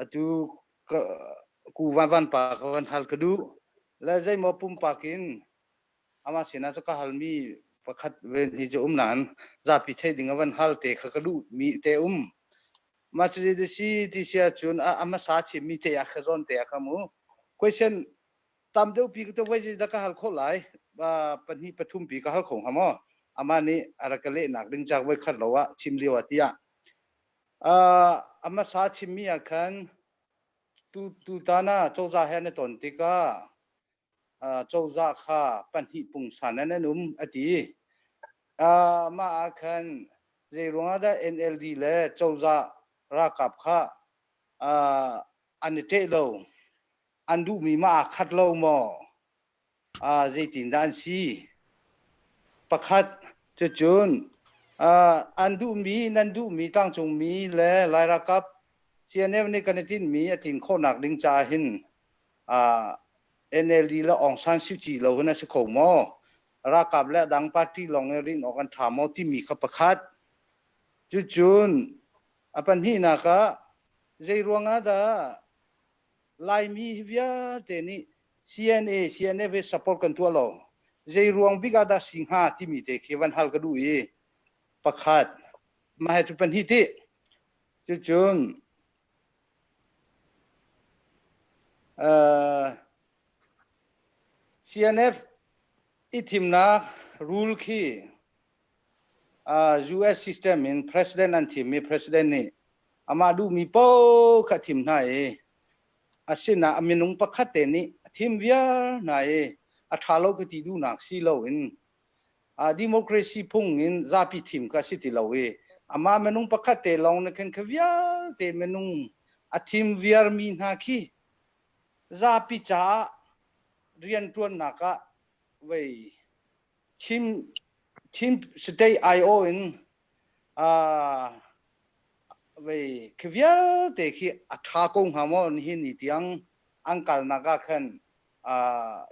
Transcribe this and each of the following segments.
atu ku van pa ka van hal ka duh la zeimaw pumpak in amah sinah cu ka halmi pakhat ven hi cu um nan zapi thei ding a van hal te kha ka duh mi te um ma cu di si ti sia cun a masa chimmi te a kha zawn te a ka mu question tam deuh pi ka to vai da ka hal kho lai ba pahnih pathum pi ka hal khong hamo ama nih ara ka leh nak ding chak vai khat lo a chim liwa tia A hmasa chimmi ah khan tutan ah cozah he an i ton tikah cozah kha pahnih pungsan in an um a ti. Mah ah khan zeiruangah dah NLD le cozah ralkap kha an i ṭeh lo? An duhmi mah aa khat lo maw? zeitindah an si? Pakhat, cucun an duhmi, nan duhmi tlangcungmi le Lai ralkap CNF nih kan i tinhmi a tlin khawhnak ding caah hin NLD le Aung San Suu Kyi lo hin a si kho maw? Ralkap le a dang party lawng nih rin awk an ṭha maw timi kha pakhat. Cucun a pahnihnak ah, zeiruangah dah Laimi hi vialte nih CNA CNF hi support kan tuah lo. Zei ruang bik ah dah si hnga timi te khi van hal ka duh i pakhat mah cu pahnih ti cucun uh, CNF i thimnak rule khi uh, US system in president an thim mi president nih amah duhmi paoh kha thim hna i Asinain a minung pakhat te nih a thim viar hna i a ṭha lo ka ti duhnak si loin uh, democracy phung in zapi thim ka si ti lo i amah minung pakhat te lawng nih khan kha vialte minung a thim viarmi hna khi zapi caah rianṭuannak ah vei Chin state aiawh in khi vialte khi a ṭha ko hnga maw nihin ni tiang an kalnak ah khan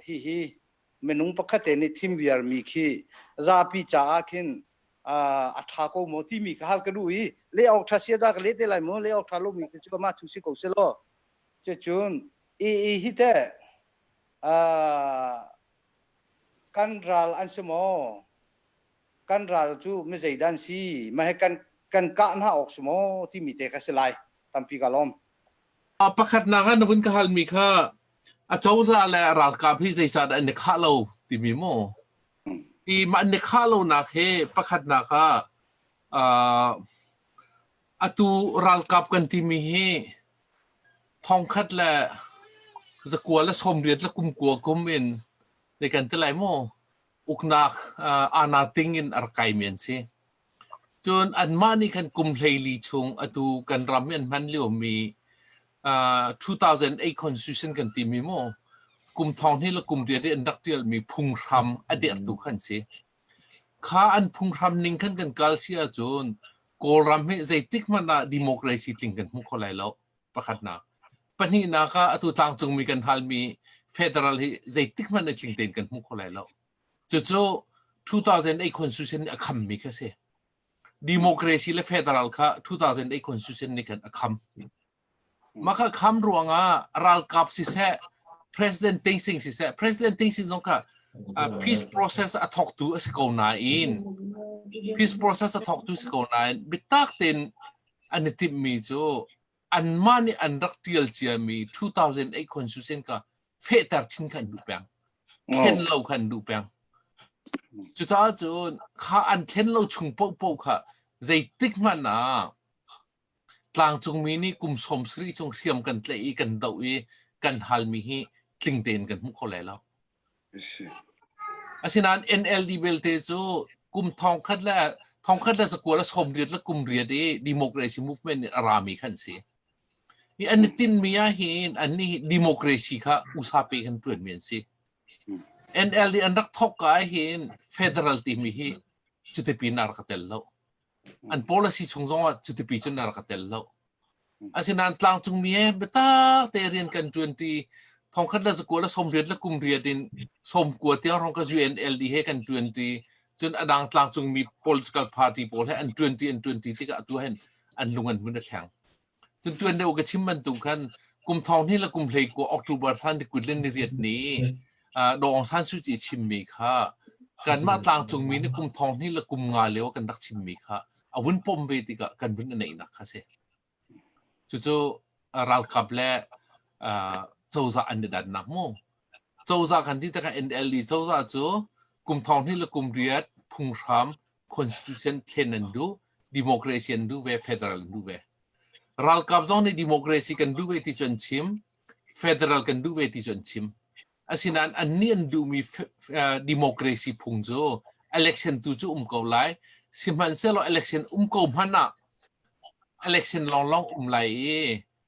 hihi minung pakhatte nih thim viarmi khi zapi caah khin a ṭha ko maw timi kha hal ka duh i leh awk ṭha sia da ka leh te lai mu leh awk ṭha lomi cu amah thu si ko seh law cucun i hi teh kan ral an si maw? Kan ral cu mi zeidah an si? Mah hi kan kan kah hna awk si maw timi te kha si lai tampi ka lawm. Uh, pakhatnak ah na vun ka halmi kha a cozah le ralkap hi zeicah an i khah lo timi maw? I mah ni khah lonak he pakhatnak ah uh, Atu ralkap kan timi hi thongkhat le zakua le somriat le kumkua kum in ne kan ti lai maw uknak ana ting in ar kai men si cun anmah nih kan kum hleili chung atu kan ram in hman lio mi uh, 2008 constitution kan ti mi mo kum thong hi la kum riat in rak tial mi phung hram a der tu kan si kha an phung hram ning kan kan kal sia cun Kawlram hi zeitik hmanh ah democracy tling kan hmu kho lai lo pakhatnak. Pahnihnak ah atu tlangcungmi kan halmi federal hi zeitik hmanh in tling tein kan hmu kho lai lo. Cucu 2008 constitution nih a khammi kha si. Democracy le federal kha 2008 constitution nih khan a kham. Makhakam ruangah ralkap siseh, president ting sing siseh, president ting sing zong kha uh, peace process a thawktu a si ko nain peace process a thawktu si ko nain bitak ten an i timmi cu anmah nih an rak tial ciami 2008 constitution ka fehter chin khan duh peng thlen lo khan duh peng cucaah cun kha an thlen lo chung poh poh kha zeitik hmanh ah Tlangcungmi nih kum sawmsarih chung hriam kan tlaih i kan doh i kan halmi hi tling tein kan hmu kho lai lo. Asinain NLD belte cu kum thongkhat le thongkhat le zakual a sawm riat le kum riat i democracy movement nih a rami kha an si. Hi an i tinmi ahhin an nih democracy kha usape kan ṭuanmi an si. NLD an rak thawk ahhin federal timi hi cutipin a rak tel lo. an policy chung zong ah cuti cun na rak ka tel lo asinain tlangcungmi he biatak te rian kan tuanti thongkhat la zakua la som riat la kum riat in som kua tiang rong ka UNLD he kan tuanti cun adang tlangcungmi political party pawl he an tuanti an tuanti tikah tu hen an lung an hun a thleng Tutuan deuh ka chim bantuk khan kum thong hnih le kum hlei kua October thlan ti kut ni riat ni Dawng San Suu Kyi chimmi kha kanmah tlangcungmi nih kum thong hnih le kum nga leo kan rak chimmi kha a vun pom ve tikah kan vun neihnak kha si. Cucu ralkap le cozah an i dannak mu. Cozah kan ti tikah NLD cozah cu kum thong hnih le kum riat phunghram constitution thlen an duh democracy an duh ve federal an duh ve ralkap zong nih democracy kan duh ve ti cu an chim federal kan duh ve ti cu an chim asinain an nih an duhmi democracy phung cu election tu cu um ko lai sihmanhsehlaw election um ko hmanh ah election lawnglawng um lai i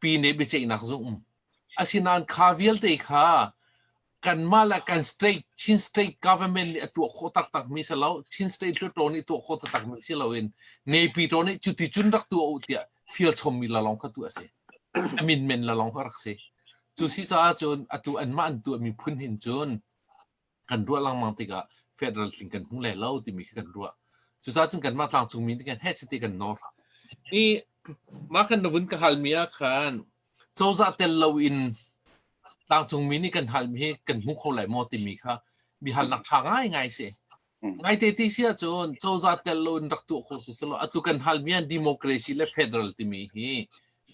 pi nih biaceihnak zung asinain kha vialte kha kanmah le kan state Chin state government nih a tuah khawh taktak mi si lo Chin state hluttaw nih tuah khawh taktak mi si loin nepi to nih cuti cun rak tuah u tiah feel chom mi la long kha tu a si amin men la long kha rak si cu si caah cun atu an mah an tuah mi phun hin cun kan ruah lengmang tikah federal tling kan hmu le lo timi khi kan ruah cucaah cun kanmah tlangcung mi kan heh chiti kan nawl ni mah kan navun ka halmi ah khan cozah tel loin tlangcung mi nih kan halmi hi kan hmu kho lai maw timi kha bi halnak ṭha ngai ngai si ngai te ti si ahcun cozah tel loin rak tuah kho si selaw atu kan halmi ah democracy le federal timi hi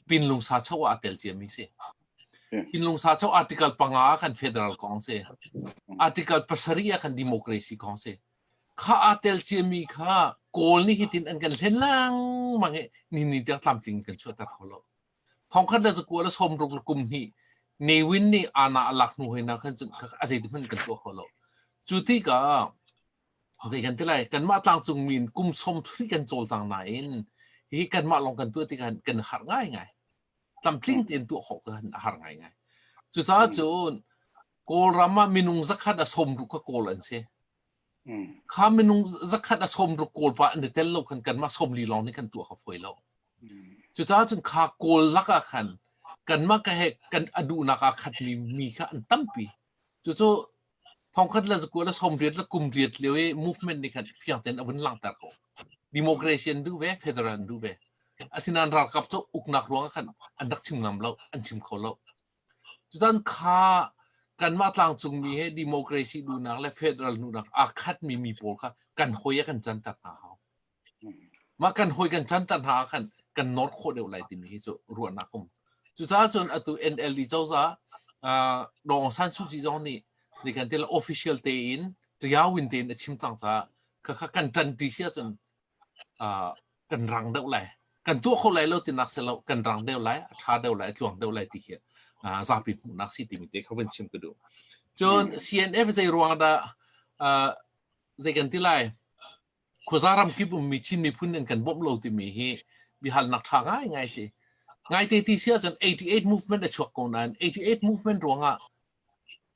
pinlung sa cho ah tel ciami si Hinlungsa cho article panga kan federal kong si. Article pasarih ah kan democracy kong si. Kha aa tel ciami kha Kawl nih hitin an kan hlen lengmang hi ni ni tiang tlamtling kan chuah ter hau lo. Thongkhat da zakua la somruk la kum hi newin nih ana alak nu hoi na khan cun a zeitin hman kan tuah kho lo. Cu ti ka zei kan tilai kanmah tlang cung min kum som thri kan col tang nain hi kanmah long kan tuah ti kan har ngai ngai. tlamtling tein tuah khawh kha a har ngaingai. Cucaah cun Kawlram ah minung zakhat a som ruk kha Kawl an si. Kha minung zakhat a som ruk Kawl pa an i tel lo khan kanmah som li lawng nih kan tuah kha fuai lo. Cucaah cun kha Kawl lak ah khan kanmah ka he kan a duhnak aa khatmi mi kha an tampi. Cucu Thongkhat le zakua le somriat le kum riat lio i movement nih khan fiang tein a vun langhter ko. Democracy an duh ve, federal an duh ve. Asinain ralkap cu uknak ruangah khan an rak chim ngam lo, an chim kho lo. Cutan kha kanmah tlangcungmi he democracy duhnak le federal duhnak aa khatmi mi pawl kha kan hawi ah kan canter hna hau. Mah kan hawi kan chanter hna ah khan kan nawr khawh deuh lai timi hi cu ruahnak um. Cucaah cun atu NLD cozah uh, Daw Aung San Suu Kyi zong nih nikan til official tein ṭia win tein a chim cang caah khakha kan ṭan ṭi si ahcun uh, kan rang deuh lai kan tuah kho lai lo tinak si lo kan rang deuh lai a ṭha deuh lai a tluang deuh lai ti khi uh, zapi hmuhnak si timi te kha van chim ka duh cun CNF zei ruang dah uh, zei kan ti lai khuaza ramkip ummi Chin miphun in kan bawmh lo timi hi biahalnak ṭha ngaingai a si. Ngaite ti si ahcun 88 movement a chuak ko nain 88 movement ruangah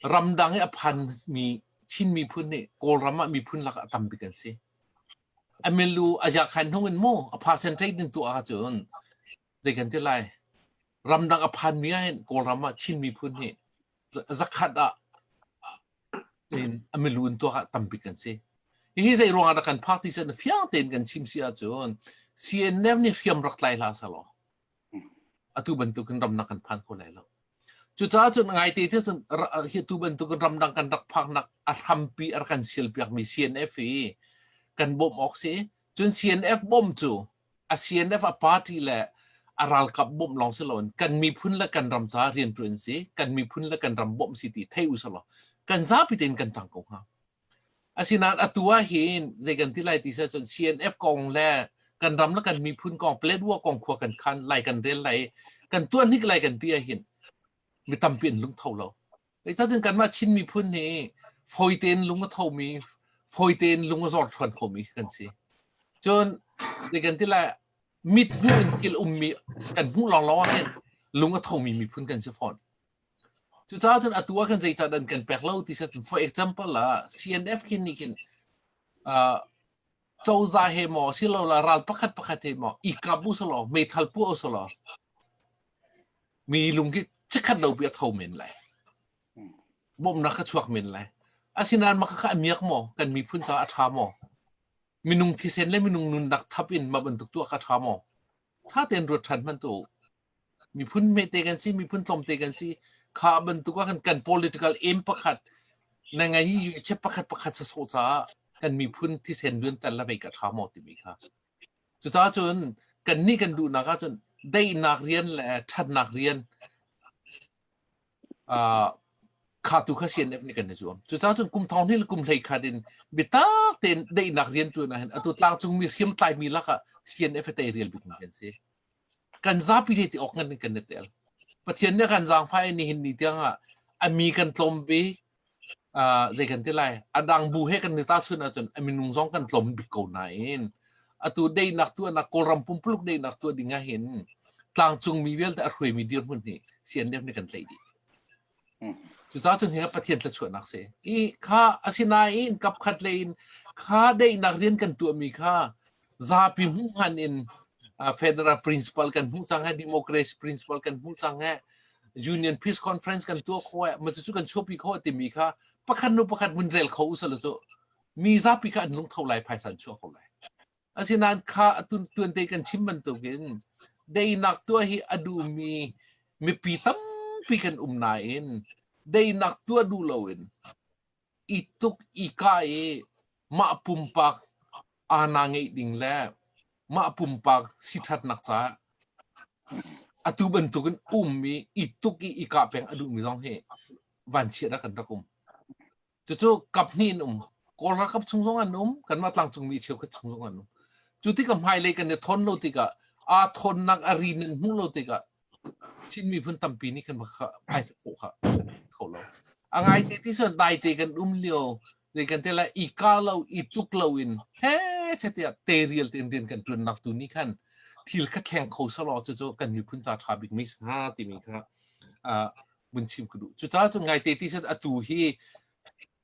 ramdang i a phanmi Chin miphun nih Kawlram ah miphun lak ah a tambik an si. A milu a jakhan hnung in mu a percentage din tu ahcun zei kan ti lai ramdang a phanmi ah hin Kawlram ah Chin miphun hi zakhat ah a milun tuak ah tambik kan si. Hihi zei ruangah dah kan phak ti na fiang tein kan chim si ahcun CNF nih hriam rak tlai hla sa law atu bantukin ramnak kan phan kho lai lo. Cucaah cun ngai te te cun hi tu bantukin ramdang kan rak phaknak a hrampi ar kan silpiak mi CNF hi kan bawm awk si. Cun CNF bom cu CNF a party le a ralkap bawmh lawng si loin kan miphun le kan ram caah rianṭuan si kan miphun le kan ram bawmh si ti thei usih law kan zapi tein kan ṭang ko hnga asinain atu ah hin zei kan ti lai ti sih cun CNF kong le kan ram le kan miphun kong Paletwa kong khua kan khan lai kan rel lai kan tuan hnik lai kan ti ah hin mi tampi in lung tho lo Zeicah cun kanmah Chin miphun hi fawi tein lung a thomi, fawi tein lung a zor ṭhuan khomi kan si. Cun, zei kan ti lai, mit hmuh in thil ummi kan hmuh lawnglawng ah khin lung a thomi miphun kan si fawn. Cucaah cun atu ah khin zeicah dan kan pek lo ti set for example ah CNF khin nih khin uh, cozah he maw silola ral pakhat pakhat he maw i kap usulaw meithal puah usulaw mi lung hi chikhat lo pi a tho men lai bawmnak ka chuak men lai asinan maka kha amiak maw kan miphun caah a tha maw minung thisen le minung nunnak thap in ma bantuk tuah ka tha maw ṭha tein ruat ṭhan hmanh tuah u. Miphun hmete kan si, miphun tlawmte kan si. Kha bantuk ah kan, kan political aim pakhat na ngei i UHF pakhat pakhat sa sawh caah kan miphun thisen luanter la vei ka ṭha maw timi kha. Cucaah cun kan nih kan duhnak ahcun daihnak rian le ṭhatnak rian khatu kha CNF nih kan zuam cucaah cun kum thong hnih le kum hlei khat in biatak tein daihnak rian ṭuan ah hin atu tlangcungmi hriamtlaimi lakah CNF tei rial bik mi kan si kan zapi te ti awk ngan in kan i tel Pathian nih kan zaangfai ni hin ni tiangah a mi kan tlawm ve zei kan ti lai a dang bu he kan ni tahchun ahcun a minung zong kan tlawm bik ko nain atu deinak tu anak kawlram pumpuluk deinak tu ding ah hin tlangcung mi vialte a hruai mi dirhmun hi sian dep ne kan tlaih dih cucaah cun hi pathian tla chuahnak si i kha asinain kapkhat le in kha daihnak rian kan tuah mi kha zapi hmuh han in federal principle kan hmuh cang he democracy principle kan hmuh cang he union peace conference kan tuah kho eh ma cu kan chuapi kho timi kha pakhat nu pakhat mun rel kho usal cu mi zapi kha an lung tho lai phaisan chua kho lai asinain kha atun tuan te kan chim bantuk in dei nak tua hi adu mi mipi tampi kan um na in dei nak tua du lo in i tuk i kah i mah pumpak ana ngeih ding le mah pumpak siṭhatnak caah atu bantukin ummi i tuk i i kah peng a duhmi zong hi vanchiatnak kan rak um. Cucu kap hnih in um. Kawl ralkap chung zong an um, kanmah tlangcungmi cheukhat chung zong an um. Cu tikah hmailei kan i thawn lo tikah aa thawnnak a rin in hmuh lo tikah Chin miphun tampi nih kan phaisa khawh kha kho lo. A ngaite ti cun daite kan um lio zei kan te la i ka lo i tuk lo in he che te te rial te den kan tun nak tu ni khan thil ka thleng kho salo cu cu kan miphun ca tha bik mi sa timi kha uh mun chim ku du cu ca cu ngaite ti cun atu hi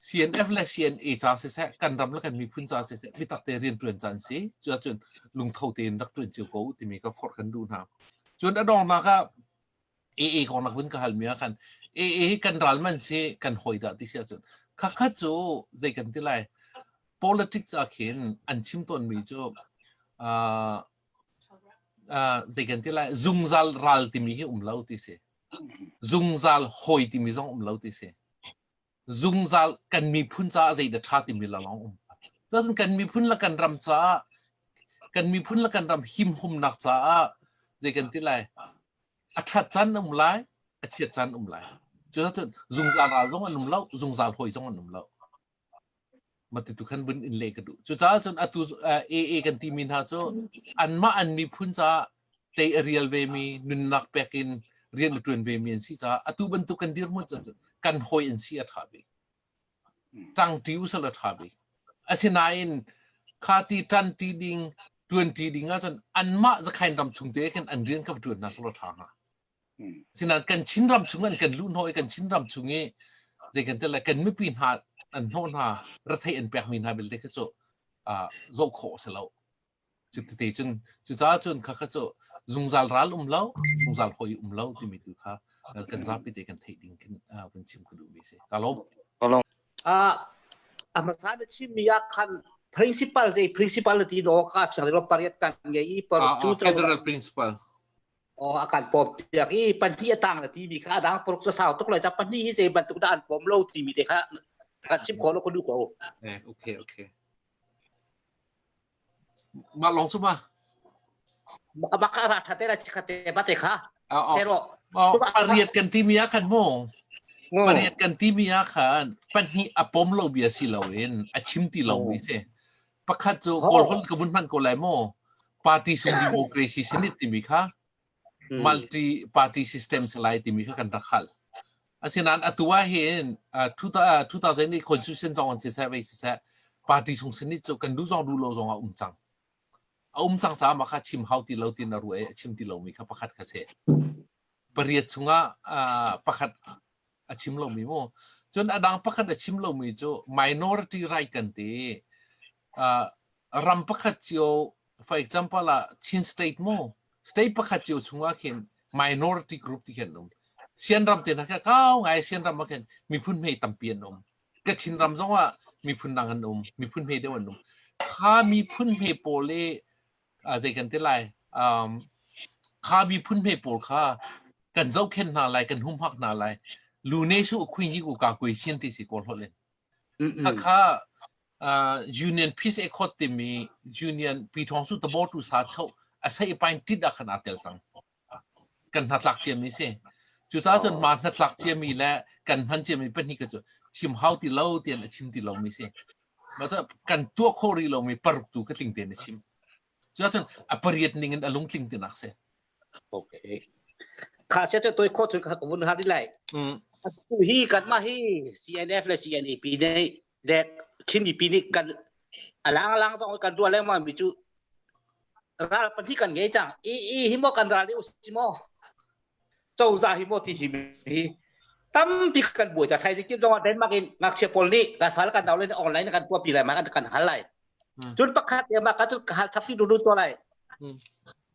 CNF le CNA ca siseh, kan ram le kan miphun ca siseh, biatak te rian ṭuan caan si. Cuahcun lungtho tein rak ṭuan cio ko timi ka forh kan duh hna. Cun a dongnak ah AA kong nak vun ka hal mi ah khan AA hi kan ral man si kan hoi dah ti si ahcun khakhat cu zei kan ti lai politics ah khin an chim tawn mi cu uh, uh, zei kan ti lai zungzal ral timi hi um lo ti si zungzal hawi timi zong um lo ti si. Zungzal kan miphun caah zeidah ṭha timi la lawng um. Cun kan miphun la kan ram caah kan miphun la kan ram himhumnak caah zei kan ti lai a ṭhat can um lai a chiat can um lai. Cu cun zungzal ral zong an um lo, zungzal hawi zong an um lo. mati tu khan bun in le ka du cu caah cun atu AA kan ti mi hna cu anmah an miphun caah tei a rial ve mi nunnak pek in rian a tuan ve mi an si caah atu bantuk kan dir mu cun kan hoi in si a tha ve tang ti usal a tha ve asinain kha ti tan ti ding tuan ti ding ah cun anmah zakhai ram chung te khan an rian ka tuan na solo tha ha Sinain kan Chin ram chung an kan luh hnawh i kan Chin ram chung i zei kan tel lai kan mipi hna an hnawh hna retheih an pekmi hna belte kha cu zoh khawh a si lo. Cuti cun cucaah cun kha kha cu zungzal ral um lo, zungzal hoi um lo timi tu kha kan zapi te kan theih ding kan chim ka duh mi si. Ka lawm. A hmasa na chimmi ah khan principal zei principality no ka fiang lo pariat kan ngei i federal principal oh akan pom piak i pahnih a tang na timi kha adang poruk sa sau tuk lai cha pahnih hi zei bantuk da an pom lo timi te kha kan chim ko lo ko du ko eh okay okay ma long suma maka maka ra thate ra chikhate bate kha Zero. Pariat kan timia kan mo. Pariat kan timia kan pahnih apom lo bia si lo in a chim ti lo mi se. pakhat cu kawlholh ka vun hman ko lai maw party sung democracy senit timi kha hmm. multi party system se lai timi kha kan rak hal asinain atu ah hin uh, 2000 ni constitution zong an si seh vai si seh party sung senit cu kan du zong du lo zong a um cang a um cang caah ma kha chim hau ti lo tin a ruai chim ti lo mi kha pakhat kha se pariat chunga uh, pakhat a chim lomi mu cun a dang pakhat a chim lomi cu minority right kan ti uh, ram pakhat cio for example ah Chin state mu state pakhat cio chungah khin minority group ti khin um sian ram te na kha kau ngai sian ram ma khin miphun mei tampi an um ka Chin ram zong ah miphun dang an um miphun mei deu an um kha miphun mei pawl le uh, zei kan ti lai um, kha miphun hme pawl kha kan zohkhen hna lai kan humhak hna lai lu ne su khuin yi ku ka kui chin ti si ko hlolin hakha uh, union peace accord timi union pi thong su tabo tu sa chho asai pain tit akhan atel sang kan hnatlak ciami si. Cucaah cun mah hnatlak ciami le kan hman ciami pahnih cu thim hau ti lo tian a chim ti lomi si. Macah kan tuah kho rih lomi paruk tu ka tling tein a chim. Cucaah cun a pariat ning in a lungtling tinak si. Okay. Kha sia tu toi kho tu ka vun har lai. Mm. Tu hi kan ma hi CNF le CNAP nei dek thimmi pi nih kan alang alang zong kan tuah lengmang mi cu ral pahnih kan ngei cang i i hi mo kan ral i usi mo cozah hi mo ti hi hi tampi kan buai ta thai sikip zong denmark in ngakchia pawl nih kan fal kan dau le online kan puapi lai man kan hal lai cun pakhat te ma ka cun hal chapti du du to lai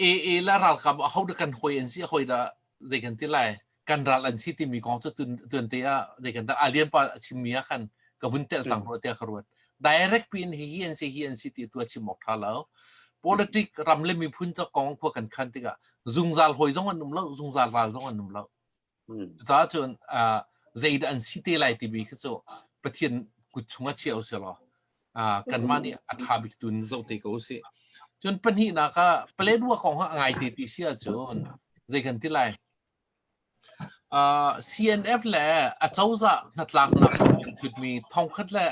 AA le ralkap a hodah kan hoi an si a hoi dah zei kan ti lai kan ral an si timi kong cu tun te ah zei kan dah alian pa a chimmi ah khan ka vun tel cang rua tiah ka ruat direct pin hi hi an si hi an si ti tu a chim ok tha lo politic ram le miphun ca kong khua kan khan tikah zungzal hoi zong an um lo zungzal ral zong an um lo Cucaah cun zeidah an si te lai timi khi cu Pathian kut chungah chia usih law kanmah nih a ṭha bik tu in zoh te ko usih. Cun pahnihnak ah palek ruah kong a ngai te ti si ahcun zei kan ti lai? CNF le a cozah hnatlaknak an thutmi thongkhat le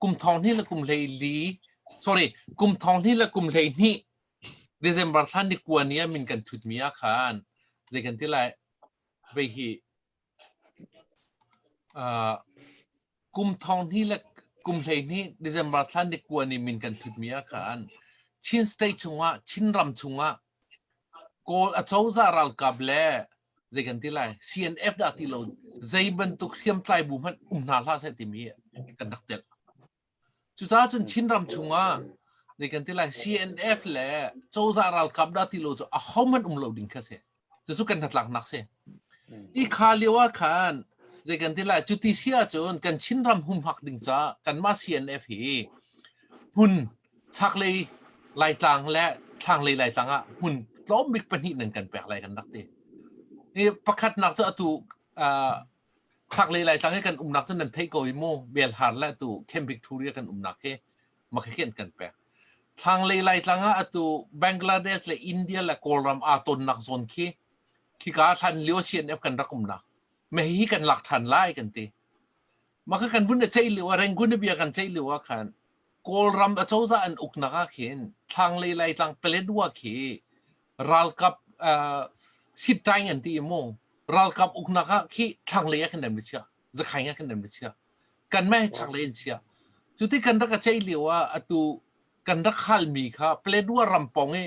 kum thong hnih le kum hlei li sorry kum thong hnih le kum hlei hnih December thla ni kua ni ah min kan thutmi ah khan zei kan ti lai? vei hi uh, kum thong hni le kum hlei hni December thlan ni kuan ni min kan thut mi a khan Chin state chungah Chin ram chungah kawl acoza ralkap le zei kan ti lai CNF da ti lo zei bantuk hriam tlai bu hman um hna hla sai ti mi kan dak tel Cucaah cun Chinram chungah ni kan ti lai CNF le cozah ralkap dah ti lo cu ahohmanh um lo ding kha si. Cucu kan hnatlaknak si. Hi kha lio ah khan zei kan ti lai cu ti si ahcun kan Chinram humhak ding caah kanmah CNF hi hmun chaklei Laitlang le thlanglei Laitlang ah hmun tlawm bik pahnih nan kan pek lai kan rak ti. Hi pakhatnak cu atu uh, Chaklei Laitlang hi kan umnak cu nan theih ko i mu Bialhar le atu Camp Victoria kan umnak hi makhikin kan pek. Thlanglei Laitlang ah atu Bangladesh le India le Kawlram aa tonnak zawn khi khika hlan lio CNF kan rak umnak mehi kan lak ṭhan lai kan ti. Maka kan vun ceih lio ah Rangoon bia kan ceih lio ah khan Kawlram acozah an uknak ah khin thlanglei Laitlang Paletwa khi ralkap sittai ngan ti mu ralkap uknak ah khi thlanglei ah khan dem chia zakhai ah khan dem chia kan meh chakle in chia cuti kan rak chei lio ah atu kan rak hal mi kha Paletwa rampong i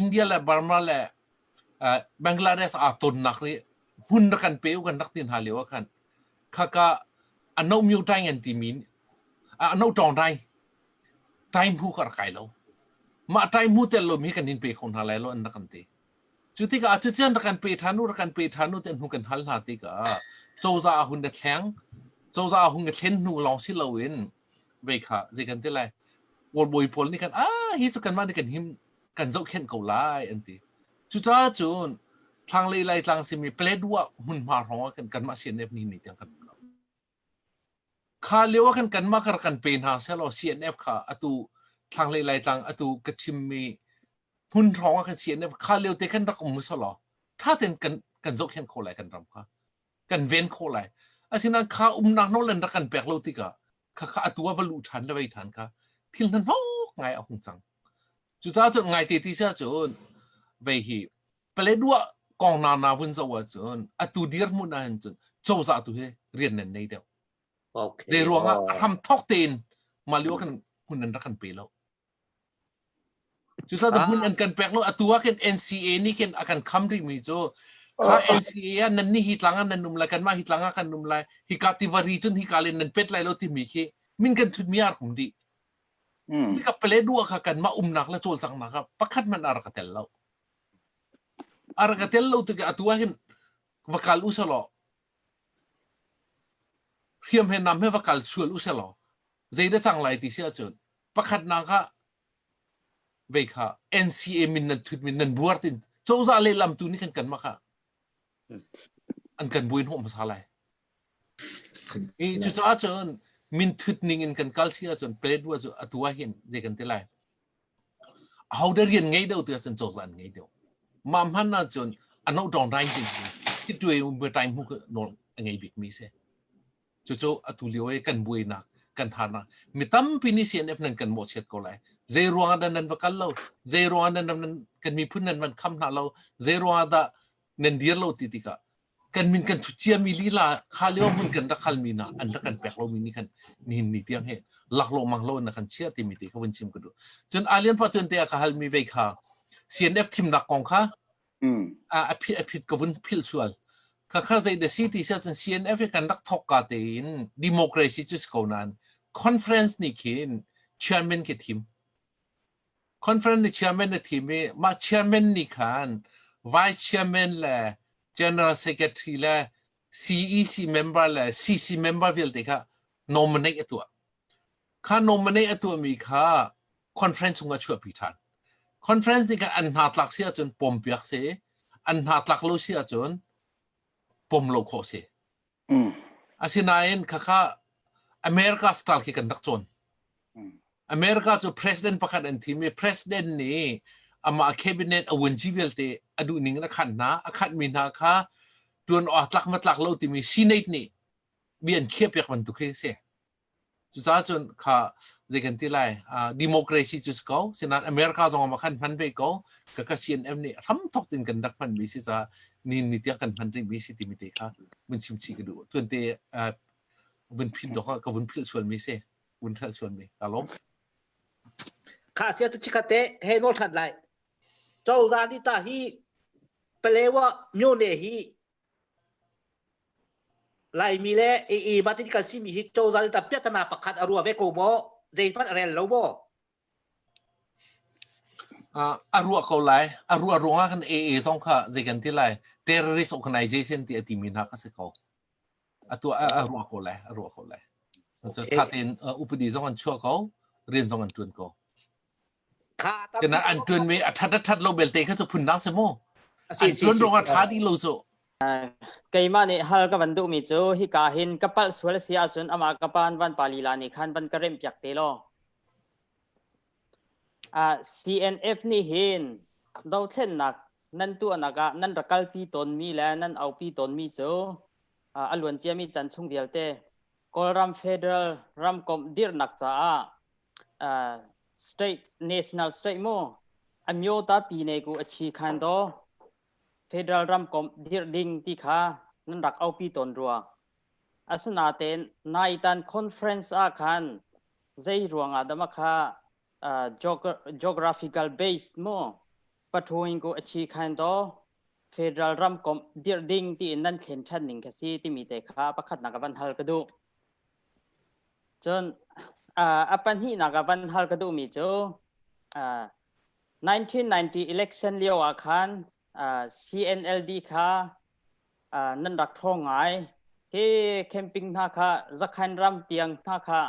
India le Burma le Bangladesh aa tonnak nih hun rak kan pe u kan rak tin hna lio ah khan khaka ano myo tai ngan ti min ano tong dai Taihmu ka rak kai lo. Mah taihmu tel lo mi kan in pe kho hna lai lo an rak kan ti. Cu tikah cu tian rak kan pe ṭhan u, rak kan pe ṭhan u tiah hnu kan hal hna tikah cozah ah hun na thleng, cozah ah hun ka thlen hnu lawng si loin vei kha zei kan ti lai kawlbawi pawl nih kan ah hi cu kanmah nih kan him kan zohkhenh ko lai an ti cucaah cun thlanglei laitlang simi Paletwa hmunhma hrawng ah kan kanmah CNF ni ni tiang kan um lo Kha lio ah khan kanmah kha rak kan pe hna sehlaw CNF kha atu thlanglei Laitlang atu ka chimmi hmun hrawng ah khan CNF kha lio te khan rak um sawh law ṭha tein kan kan zohkhenh khawh lai kan ram kha kan ven khawh lai asinain kha umnak nawl in rak kan pek lo tikah khakha atu ah va luh ṭhan le vei ṭhan kha thil hnahnawk ngai a hung cang cucaah cun ngaite ti sia cun vei hi Paledua kong na na vun zo ahcun atu dirhmun ah hin cun cozah tu hi rian nan nei deuh. Okay. De ruangah ham thok tein malio kan hun an kan pe lo. Cusa da hun an kan pek lo atu ah ken NCA ni ken akan kham ri mi cu kha NCA ah nan ni hi tlang nan num lai kan ma hi tlang kan num lai hi ka tivari cun hi ka len nan pet lai lo ti mi khi min kan thut mi ar hum di ka pele dua kha kan ma um nak la chol sang na ka pakhat man ar ka tel lo A rak ka tel lo tikah atu ahhin va kal u sih law hriam he nam he va kal sual u sih law zeidah cang lai ti si ahcun pakhatnak ah vei kha NCA min nan thut min nan buar tin cozah le lamtu nih kan kan maka an kan buin hawh hmasa lai i cucaah cun min thut ning in kan kal si ahcun pledwa cu atu ahhin zei kan ti lai Ahote rian ngei deuh tiah cun cozah an ngei deuh. Mah hman ahcun an hauh ṭawng rai ding in situai um tai hmu nawl a ngei bikmi si. Cucu atu lio i kan buainak kan harnak mi tampi nih CNF nan kan mawhchiat ko lai zei ruangah dah nan va kal lo zei ruangah nan kan miphun nan van kham hna lo zei ruangah dah nan dir lo ti tikah kan min kan thu ciami lila kha lio hmun kan rak hal mi na an rak kan pek lo mi nih khan nihin ni tiang hi laklawh mang lo in na kan chiah timi ti kha vun chim ka duh cun alian pa tuan te a ka hal mi vei kha CNF thimnak kong kha a phit a phit ka vun phil sual kha kha zei de si ti siao cun CNF hi kan rak thok ka te in democracy cu si ko nan conference ni khin chairman ke thim Conference ni chairman a thim i mah chairman nih khan vice chairman le general secretary le CEC member le CC member vialte kha nominate a tuah. Kha nominate a tuahmi kha conference chung a chuahpi ṭhan. Conference nih khan an hna tlak si ahcun pawmpiak si, an hna tlak lo si ahcun pawm lo khawh si. Asinain khakha America style khi kan rak cawn. America cu president pakhat an thim i president nih amah cabinet a vunci vialte a duh ning in a khat hna a khat mi hna kha tuan awak tlak matlak lo timi senate nih bia an khiah piak bantuk khi a si. Cucaah cun kha zei kan ti lai democracy cu si ko sinain America zong ah khan hman ve ko ka ka CNM nih hram thok tin kan rak hman mi si caah ni ni tiah kan hman rih mi si timi te kha vun chim chih ka duh tuan te vun phin dok ka vun philh sual mi si vun thlal sual mi ka lom kha sia tu chikhate he nol than lai cozah ni ta hi palewa myone hi Laimi le ii Martin kan simi hi cozah nih tah piahtana pakhat a rua ve ko maw? Zeihmanh a rel lo maw? Uh, a ruah ko lai. A ruah ruangah kan AA zong kha zei kan ti lai. Terrorist organization ti a timi hna ka si ko. Atu a, a ruah ko lai. A ruah ko lai. Okay. Thaten uh, upadi zong an chuah ko. Rian zong an tuan ko. Kenah an ṭuanmi a ṭhat a ṭhat lo belte kha cu phundang si mu. An ṭuan ruangah ṭha ti lo cu. Keimah nih hal ka van duhmi cu hika hin ka palh sual a si ahcun amah ka pa an van pa lila nih khan van ka remhpiak te law. CNF nih hin dothlennak nan tuahnak ah nan ra kalpi tawnmi le nan aupi tawnmi cu a luanciami chan chung vialte Kawlram Federal ramkomh dirhnak caah uh, state national state mo amyo ta pi ne ku achi khan do federal ram kom dir ding ti kha nan rak aupi ton ruwa asana ten nai tan conference a khan zai ruanga dama kha uh, geographical based mo pathuin ku achi khan do federal ram kom dir ding ti nan thlen than ning ka si ti mi te kha pakhat na ka van hal ka du Cun uh, a pahnihnak ah van hal ka duhmi cu uh, 1990 election lio ah khan uh, CNLD kha uh, nan rak ṭhawng ngai. Hi camping hna kha zakhan ram tiang hna kha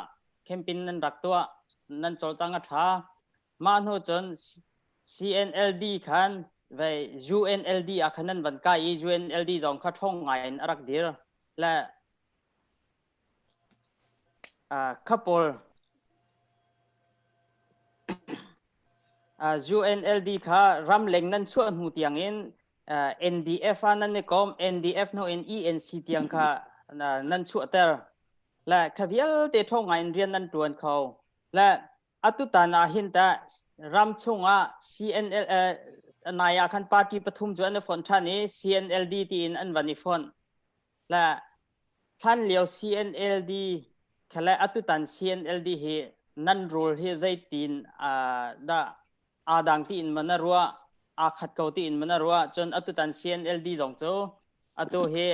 camping nan rak tuah nan cawlcang a ṭha. Mah hnu cun CNLD khan vei UNLD ah khan nan van kai i UNLD zong kha ṭhawng ngai in a rak dir. Le Kha pawl UNLD kha ramleng nan chuah hnu tiangin NDF ah nan i kom NDF hnuin ENC tiang kha nan chuahter le kha vialte ṭhawng ngaiin rian nan ṭuan kho le atutan ahhin tah ram chungah CNL nai ahkhan party pathum cu an i fonh ṭhan i CNLD tiin an van i fonh. le hlanlio CNLD khale atutan CNLD hi nan rul hi zeitin dah aa dang tiin mana ruah aa khat ko tiin mana ruah cun atutan CNLD zong cu atu hi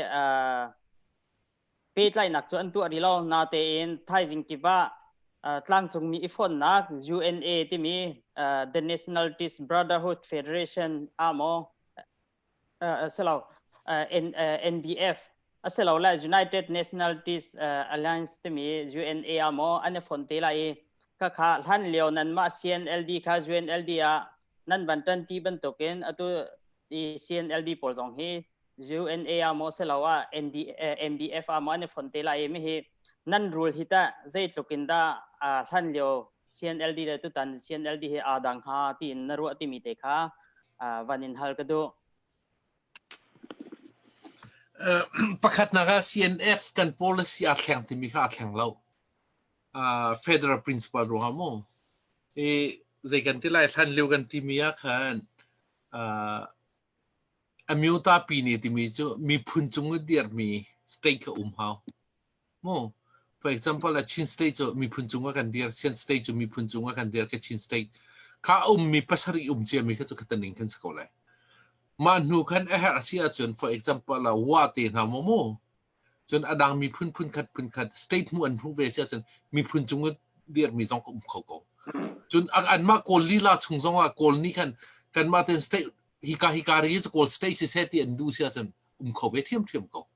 petlainak cu an tuah rih lo natein thaizing kip ah tlangcungmi i fonnak UNA timi the Nationalities Brotherhood Federation aa maw silo NDF asilole United Nationalities Alliance timi UNA ah maw an i fon te lai i khakha hlan lio nan mah CNLD kha UNLD ah nan ban ṭanṭi bantukin atu i CNLD pawl zong hi UNA ah maw silo ah MDF ah maw an i fon te lai mi hi nan rul hi ta zeitluk in dah hlan lio CNLD le tutan CNLD he aa dang ha tiin na ruah timi te kha van in hal ka duh. pakhatnak ah CNF kan policy a thleng timi kha a thleng lo federal principle ruang mu i zei kan ti lai hlan liu kan timi ah khan amyuta pi ni timi cu miphun cung i dir mi state ka um hau Maw, for example, a Chin state cu miphun cung a kan dir, Chin state cu miphun cung a kan dir, ka Chin state. Ka ummi pasarih um ciami kha cu ka taning kan si ko lai. Mah hnu khan a herh a si ahcun, for example, wa te hna maw mu, cun a dang miphun phunkhat phunkhat state hmuh an hmuh ve si ahcun miphun cung a dirmi zong ka um kho ko. Cun anmah Kawl lila chung zong ah Kawl nih khan kanmah ten state hika hika ri cu Kawl state si seh ti an duh si ahcun um kho ve ṭhiamṭhiam ko.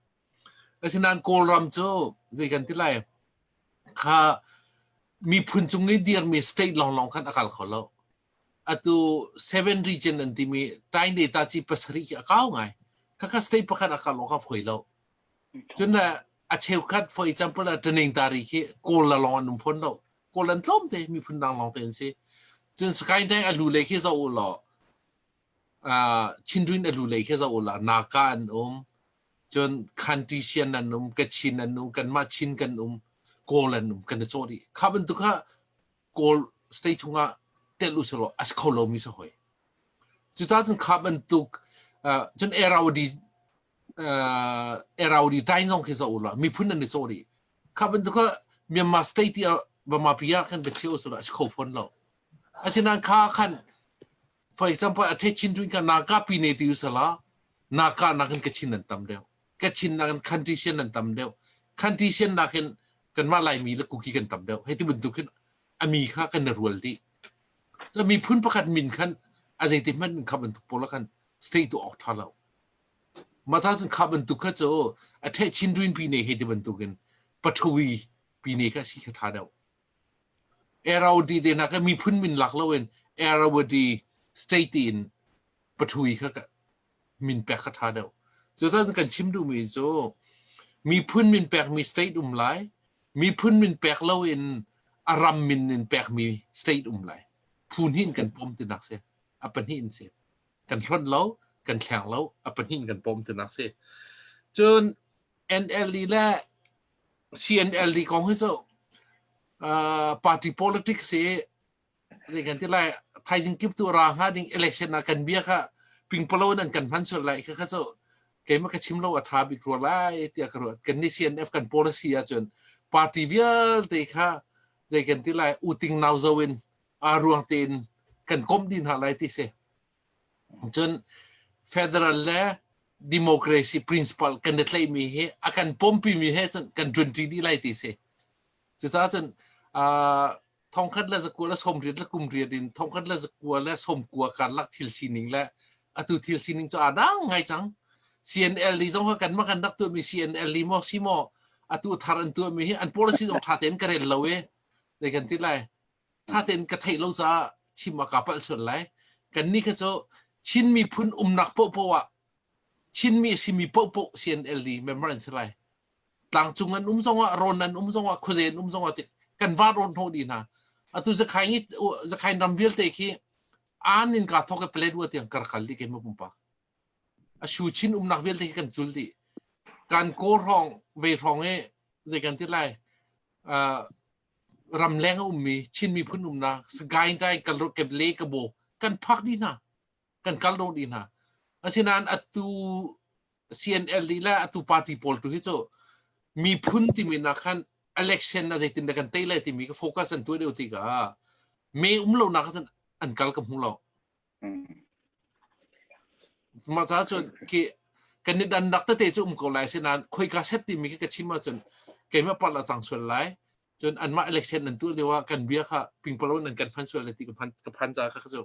Asinain Kawlram cu zei kan ti lai kha miphun cung i dirmi state lawnglawng khan a kal kho lo. Atu seven region an timi tain data ci pasarih hi a kau ngai. Khakha state pakhat a kal awk a foi lo. Cun a cheukhat, for example, a ṭaning tari khi Kawl la lawng an um fawn lo. Kawl an tlawm te, miphun dang lawng te an si. Cun Skytang a lu le khi zoh u law uh, chinrin elu lei khi zau la naka an um cun khanti sian an um ka chin an um kanmah chin kan um kawl an um kan chaw di kha bantuk ha kawl state chunga tel u selo as kho lo mi sa hoi cu ta cun kha bantuk uh, cun eraudi uh, eraudi tain zong khi zau la mi phun an ni chaw di kha bantuk ha Myanmar state ya bama pia kan ka cheu selo as kho phon lo asinan kha khan for example a the chin tuin ka na ka pi ne ti sala na ka na kan ka chin nan tam deu ka chin na kan country sien nan tam deu country sien na kan kan ma lai mi la kuki kan tam deu he ti buntuk hin ami kha kan na rual di so mi phun pakhat min khan a zei ti man kham an tuk pola khan state to ok tha lo ma ta sun kham an tuk kha cho a the chin tuin pi ne he ti bantukin pathui pi ne kha si kha tha deu Arrowdy nak miphun min lak lo in Arrowdy state in pathui kha min pek kha tha deuh. Cucun kan chim duhmi cu miphun min pekmi state um lai, miphun min pek lo in a ram min in pekmi state um lai. Phu hnih in kan pom tinak si. A pahnih in si. Kan hlonh lo, kan thleng lo, a pahnih in kan pom tinak si. Cun NLD le CNLD kong hi cu uh, party politics hi zei kan ti lai thaizing kip tu ra nga ding election na kan bia kha pingpalo nan kan man sul lai kha kha chu keima ka chim lo a tha bik ro lai tia ka ruat kan ni CNF kan policy a chun party vial te kha zei kan ti lai uting nau zo in a ruang te in kan kom din ha lai ti se cun federal le democracy principle kan i tlaihmi hi a kan pompimi he cun kan ṭunṭi dih lai ti si cucaah cun thongkhat le zakua le somriat le kumriat in thongkhat le zakua le somkua karlak thil sining le atu thil sining cu aa dang ngai cang CNL ni zong kan mah kan rak tuahmi CNL ni maw si maw atu thar an tuahmi hi an policy zong ṭha tein ka rel lo i dei kan ti lai thatein ka theih lo caah chim a ka palh sual lai kanni kha cu Chin miphun umnak pohpoh ah Chinmi a simi pohpoh CNL i member an si lai tlangcung an um zongah rawn an um zongah khuaze an um zongah ti kan va rawn hno di hna atu zakhai ngi zakhai ram vialte khi an in ka thoke palet wa tiang karkal di ke ma pumpa a shu chin umnak vialte khi kan chul di kan ko rong ve rong e zei kan ti lai uh, ramleng a ummi Chin miphun umnak Sagaing ka in kal ke le ka bo kan phak dih hna kan kal ro dih hna asinain atu CNL le atu party pawl tu hi cu miphun timi na khan election na zeitin da kan tei le timi ka focus an tuai deuh ti ka me um lo na khan an kal ka hmu lo Maca cun ki kan ni dan dak tete cu um ko lai sinain khoika set timi khi ka chim ahcun keimah parh a cang sual lai. Cun anmah election nan tuah lio ah kan bia kha pingpalo in kan phan sual lai ti ka phan ka phan ca kha cu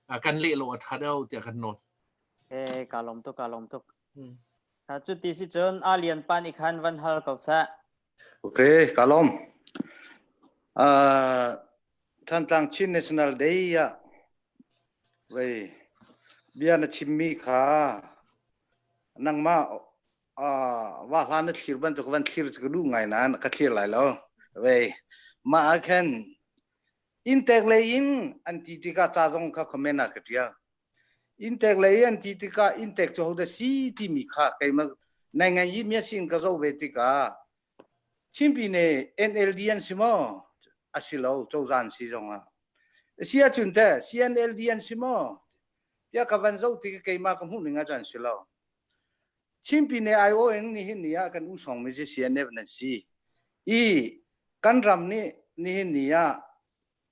ah, kan leh lo a ṭha deuh tiah kan nawl. Eh, ka lawm tuk, ka lawm tuk. Hmm. Ha, cu ti si cun a lian pa nih khan van hal ko sah. Okay, ka lawm. Uh, Thantlang Chin National Day ah vei bia na chimmi kha nangmah uh, wa hlan na thlir ban ka van thlir ka du ngai na ka thlir lai lo vei ma ah khan in tek le in an ti ti ka cha zong ka comment na ka tial Intek lei an ti tikah intek cu hodah si timi kha keimah nai ngai i mia sin ka zoh ve tikah chimpi ne NLD an si maw? A si lo, cozah an si zong ah. Si ahcun te CNLD an si maw? Tiah ka van zoh tikah keimah ka hmuhning ah an si lo. Chimpi ne IO in nihin ni ah kan u songmi cu CNF nan si. I kan ram nih nihin ni ah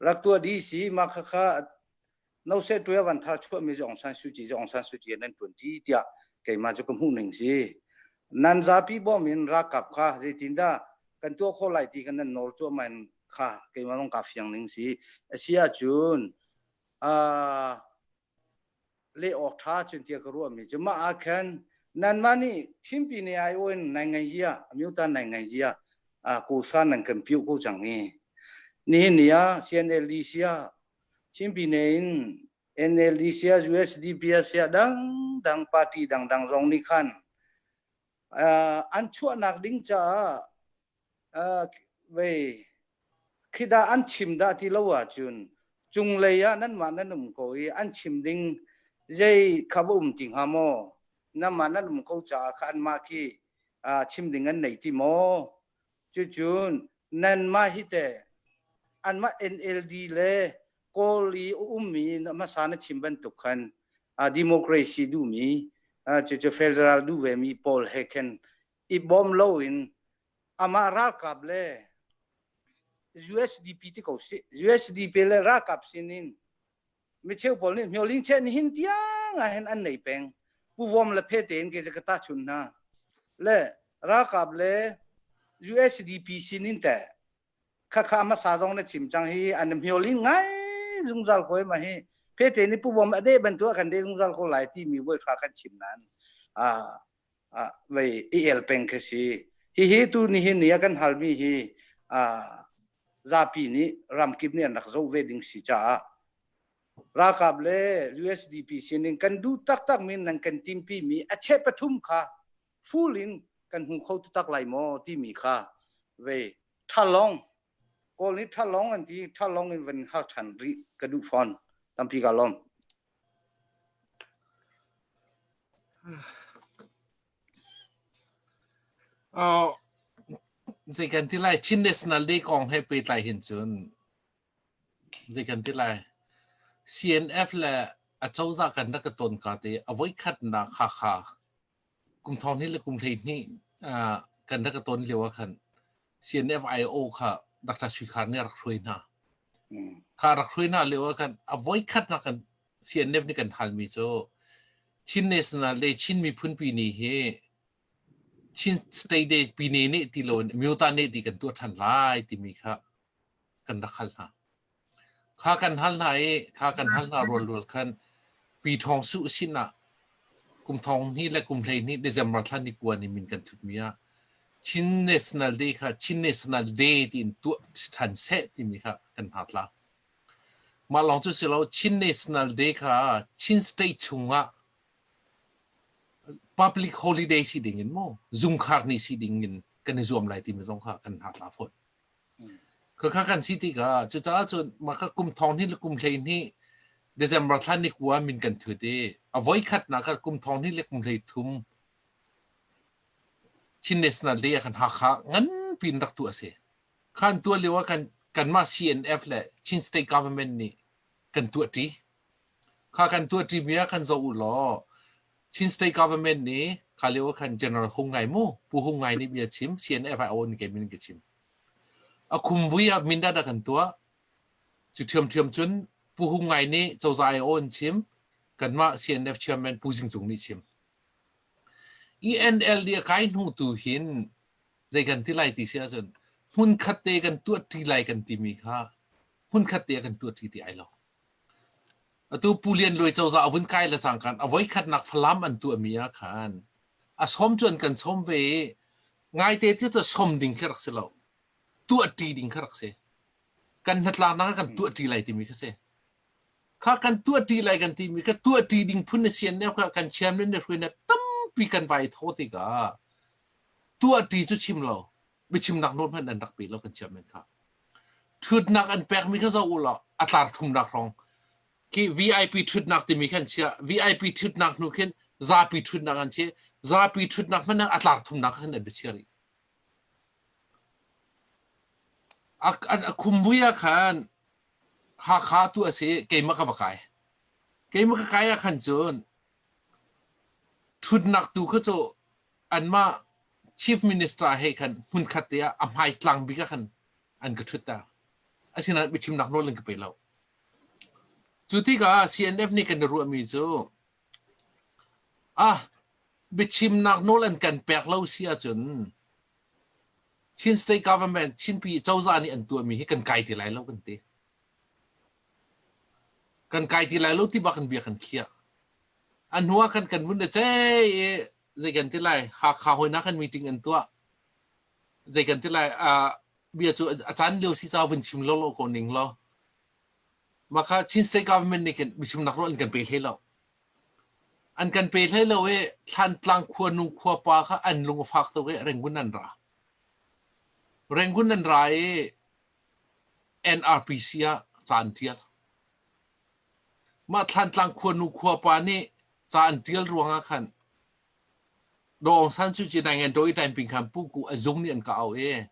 rak tua di si ma kha kha no se tu ya van thar chua mi jong san su chi jong san su chi nan tun ti tia keima chu ka mu ning si nan zapi bom in rakap kha zeitin da kan tua kho lai ti kan nan nor tua man kha keima long ka fiang ning si asia chun a leh awk ṭha cun tia ka ruahmi cu mah ah khan nanmah nih thimpi ne ai oin nai ngai zia amyu ta nai ngai zia ku san nan kan piu ko cang ni ni ni a CNLDC a thimpi ne in NLDC a USDP a sia dang dang party dang dang zong nih khan an chuahnak ding caah vei khi dah an chim dah ti lo ahcun cunglei ah nanmah nan um ko i an chim ding zei kha um ti hnga maw nanmah nan um ko caah kha anmah khi chim ding an nei ti maw cucun nanmah hi te anmah NLD le kawl i ummi hmasa na chim bantuk khan democracy duhmi cucu federal duh vemi paul he khan i bawm loin amah ralkap le USDP ti ko si USDP le ralkap sinin mi cheu pawl nih hmyoling che ni hin tiang ah hin an nei peng puwom le phe tein ke ka ta chun hna le ralkap le USDP sinin te khakha ma sa dong na chim chang hi an hmyoling ngai zungzal ko ma hi phe te ni puwom ade bantu kan de zungzal ko lai ti mi woi kha kan chim nan a vei i el peng khi si hihi tu nihin ni a kan halmi hi zapi nih ramkip nih an rak zoh ve ding si caah ralkap le usdp sining kan duh taktak mi nan kan timpi mi a che pathum kha full in kan hmu kho taktak lai maw timi kha vei thalong Kawl nih ṭhalawng an ti. Ṭhalawng in van hal ṭhan rih ka duh fawn. Tampi ka lawm. Uh, zei kan ti lai Chin National Day kong he pehtlai hin cun zei kan ti lai CNF le a cozah kan rak ka ton ka te a voi khatnak kha kha kum thong hnih le kum hleihnih uh, kan rak ka ton lio ah khan CNFIO kha Dr. Suikar nih rak hruai hna kha rak hruai hna lio ah khan a voi khat na kan CNF nih kan halmi cu Chin national le Chin miphun pi ni hi Chin state de pi ne ne ti lo in myo ta ne ti kan tuah than lai timi kha kan rak hal hna. Kha kan hal hna i kha kan hal hna rualrual khan pi thawng su sinah kum thong hnih le kum hleihnih December thla ni kuan i min kan thutmi ah Chin National Day kha Chin National Day tiin tuah ṭhan seh timi kha kan hna tla. Mah lawng cu si lo Chin National Day kha Chin State chungah public holiday si ding in maw zungkhar ni si ding in kan i zuam lai timi zong kha kan hna tla fawn. Ka kha kan si tikah cucaah cun mah ka kum thong hnih le kum hleihnih December thla ni kua min kan thut i a voikhatnak kha kum thong hnih le kum hlei thum Chin National Day ah kan Hakha nganpi in rak tu a si. Khan tuah lio ah kan kanmah CNF le Chin State Government nih kan tuah ṭi. Kha kan tuah ṭi mi ah kan zoh u law Chin State Government nih kalio khan General Hung Ngai mu Pu Hung Ngai nih bia chim CNFIO in ke min ke chim a kum vui ah mindat a kan tuah cu thiam thiam cun Pu Hung Ngai nih cozai o in chim kanmah CNF chairman Pu Jing Cung nih chim ENLD a kai hnu tu hin zei kan ti lai ti si ahcun hmun khat te kan tuah ti lai kan timi kha hmun khat te kan tuah ti ti ai lo Atu Pu Lian Luai cozah a vun kai le cangkan a voikhatnak Falam an tuahmi ah khan a sawm cu an kan sawm ve i ngaite cu cu sawm ding khi rak si lo tuahṭi ding kha rak si kan hnatlaknak ah kan tuahṭi lai timi kha si kha kan tuahṭi lai kan timi ka tuahṭi ding phun na sian ne kha kan chiam le ne hruai ne tampi kan vai tho tikah tuahṭi cu chim lo biachimnak nawl hmanh an rak pe lo kan chairman kha ṭhutnak an pekmi kha zoh u law a tlar thumnak hrawng ki VIP ṭhutnak timi khan chia VIP ṭhutnak hnu khin zapi ṭhutnak an chi zapi ṭhutnak hmanh a tlar thumnak khan an biachia rih a a khumbuia khan Hakha tu a si keimah ka va kai keimah ka kai ah khan cun ṭhutnak tu kha cu anmah chief minister he khan hmunkhat te ah a hmaitlang bik ah khan an ka ṭhutter asinain biachimnak nawl an ka pe lo cu tikah CNF nih kan i ruahmi cu ah biachimnak nawl an kan pek lo si ahcun Chin state government Chin pi cozah nih an tuahmi hi kan kai ti lai lo kan ti kan kai ti lai lo ti bak in bia kan khiah. A hnu ah kan kan vun a cei i zei kan ti lai Hakha hawinak kan meeting an tuah. Zei kan ti lai a bia cu a caan lio si ca vun chim lo lo ko ning lo. Maka Chin state government nih kan bichim nak ro an kan pe hlei lo. An kan pe hlei lo i thlantlang khua nu khua pa kha an lung a fak tuk i rengun an ra. Rengun an ra i NRPC ah ca an ṭial. Mah Thlantlang khuanu khuapa nih ca an ṭial ruangah khan Daw Aung San Suu Kyi naingan Daw Itain ping khan puku a zung nih an ka auh i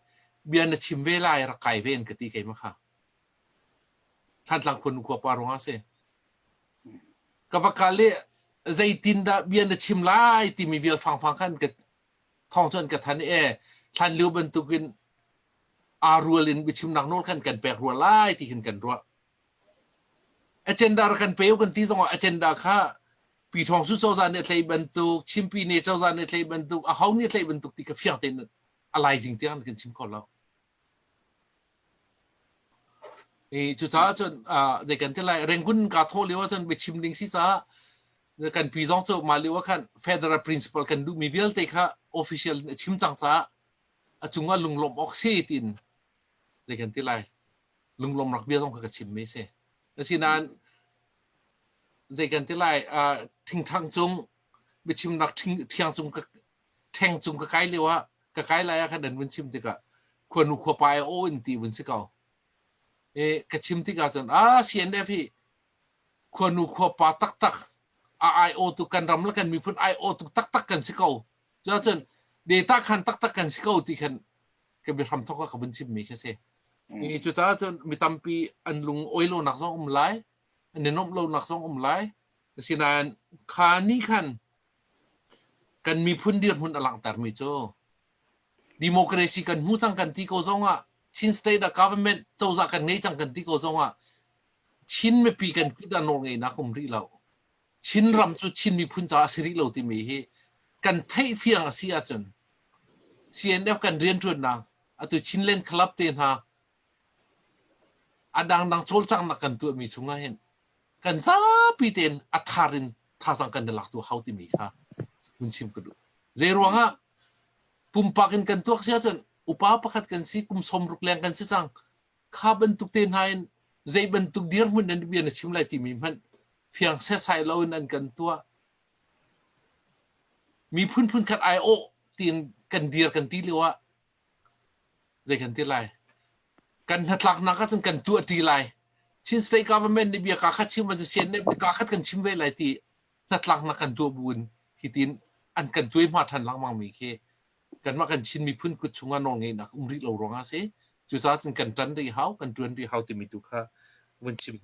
bia na chim ve lai rak kai ve an ka ti keimah kha. Thlantlang khuanu khuapa ruangah a si. Ka va kal i zeitindah bia na chim lai timi vial fangfang khan ka thawng cu an ka than i hlan liu bantuk in aa rual in biachimnak nawl khan kan pek rua lai ti hin kan ruah agenda ra kan pe kan ti zongah agenda kha pi thawng su cozah nih thlei bantuk chimpi ne cozah nih thlei bantuk aho nih thlei bantuk ti ka fiang tein alaizing tiang kan chim kho lo I cucaah cun zei kan ti lai Rangoon kaa thawh lio ahcun biachim ding si caah kan pi zong cu mah lio ah khan federal principle kan duhmi vialte kha official in a chim cang caah a cungah lunglawmh awk si tiin zei kan ti lai lunglawm rak bia zong kha ka chimmi si asinain zei kan ti lai thingthang cung biachimnak thiang cung ṭheng cung ka kai lio ah ka kai lai ah khan nan vun chim tikah khuanu khuapa ai aw in ti vun si ko e, ka chim tikah cun a CNF hi khuanu khuapa taktak a ai aw tu kan ram le kan miphun ai aw tu taktak kan si ko cuah cun data khan taktak kan si ko ti khan ka bi hram thok ka vun chim mi kha si e, cucaah cun mi tampi an lung oi lo nak zong um lai an i nomh lo nak zong um lai asinain kha ni khan kan miphun dirhmun a langhtermi cu democracy kan hmu cang kan ti ko zongah Chin state ah government cozah kan ngei cang kan ti ko zongah Chin mipi kan kut ah nawl ngeinak um rih lo Chin ram cu Chin miphun caah a si rih lo timi hi kan theih fiang a si ahcun CNF kan rianṭuannak atu Chinland Club te hna a dangdang cawlcanghnak kan tuahmi chungah hin kan zapi tein a thar in thazaang kan lak tu hau timi kha hun chim ka duh. Zei ruangah pumpak in kan tuak si ahcun upa pakhat kan si kum sawm ruk leng kan si cang kha bantuk te hna in zei bantuk dirhmun an bia na chim lai timi hmanh fiang sesai lo in an kan tuah mi phunphun khat ai awh tiin kan dir kan ti lio ah zei kan ti lai kan hnatlaknak ahcun kan tuahṭi lai Chin state government nih bia ka khat chim an sian ne ka khat kan chim ve lai ti hnatlaknak kan tuah bu in hitin an kan tuai hma ṭhan lengmang mi khi kanmah kan Chin miphun kut chungah nawlngeihnak um rih lo ruangah si cucaah cun kan ṭan rih hau kan ṭuan rih hau timi tu kha vun chim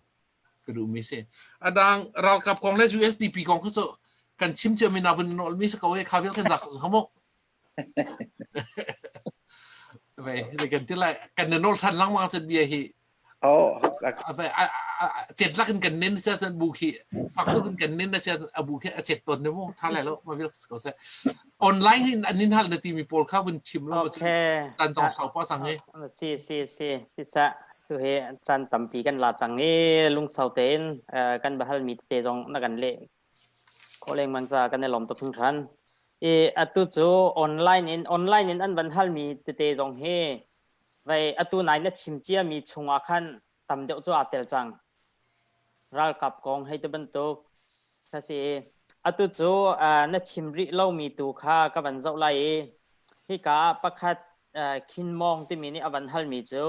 ka duhmi si adang ralkap kong le USDP kong kha cu kan chim ciam in a vun nawl mi si ko e kha vial kan zak zak mo Vei, le kan ti lai, kan na nol san lang ma chat bia hi. Oh, chet lak in kan nen sia chan bu khi fak tu in kan nen na sia abu khi a chet ton ne mu tha lai lo ma bil ko se online hin anin hal na ti mi pol kha bun chim lo okay tan jong sau pa sang e si si si si sa tu he chan tampi kan la chang e lung sau te in kan bahal mi te jong na kan le khawh lengmang caah kan i lawm tuk hringhran. I atu cu online in online in an van halmi tete zong hi vei atu nai na chim ciami chungah khan tam deuh cu aa tel cang. Ralkap kong hei ti bantuk ka si. Atu cu uh, na chim rih lomi tu kha ka van zoh lai i hika ah pakhat uh, Khin Mawng timi nih a van halmi cu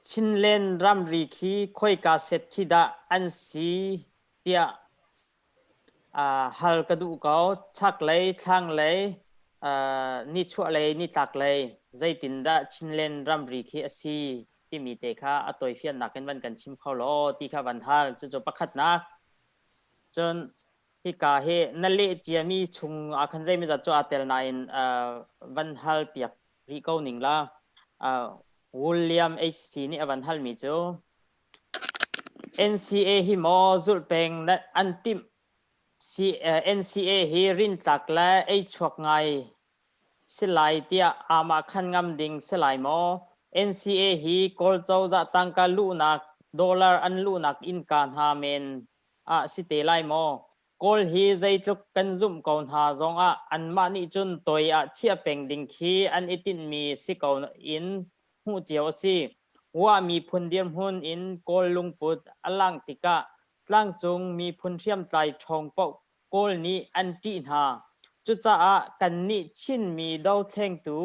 Chinland ramri khi khoika set khi dah an si tiah aa hal ka duh ko. Chaklei, thlanglei, aa nichuahlei, nitlaklei zeitindah Chinland ramri khi a si timi te kha a tawifiannak in van kan chim kho law ti kha van hal. Cucu pakhatnak. Cun hika hi na leh ciami chung ah khan zeimawzat cu aa tel nain aa van hal piak rih ko ning la. Uh, William HC nih a van halmi cu NCA hi maw zulh peng le an timh si, uh, NCA hi rintlak le ei chuak ngai si lai tiah amah khan ngam ding si lai maw NCA hi kawl cozah tangka luhnak dollar an luhnak innka hna men ah si te lai maw Kawl hi zeitluk kan zumh ko hna zongah anmah nih cun toi ah chiah peng ding khi an i tinhmi si ko in hmuh cio a si. Wah miphun dirhmun in Kawl lungput a langh tikah tlangcung miphun hriamtlai ṭhawng paoh Kawl nih an ṭih hna. Cucaah kannih Chinmi dotlengtu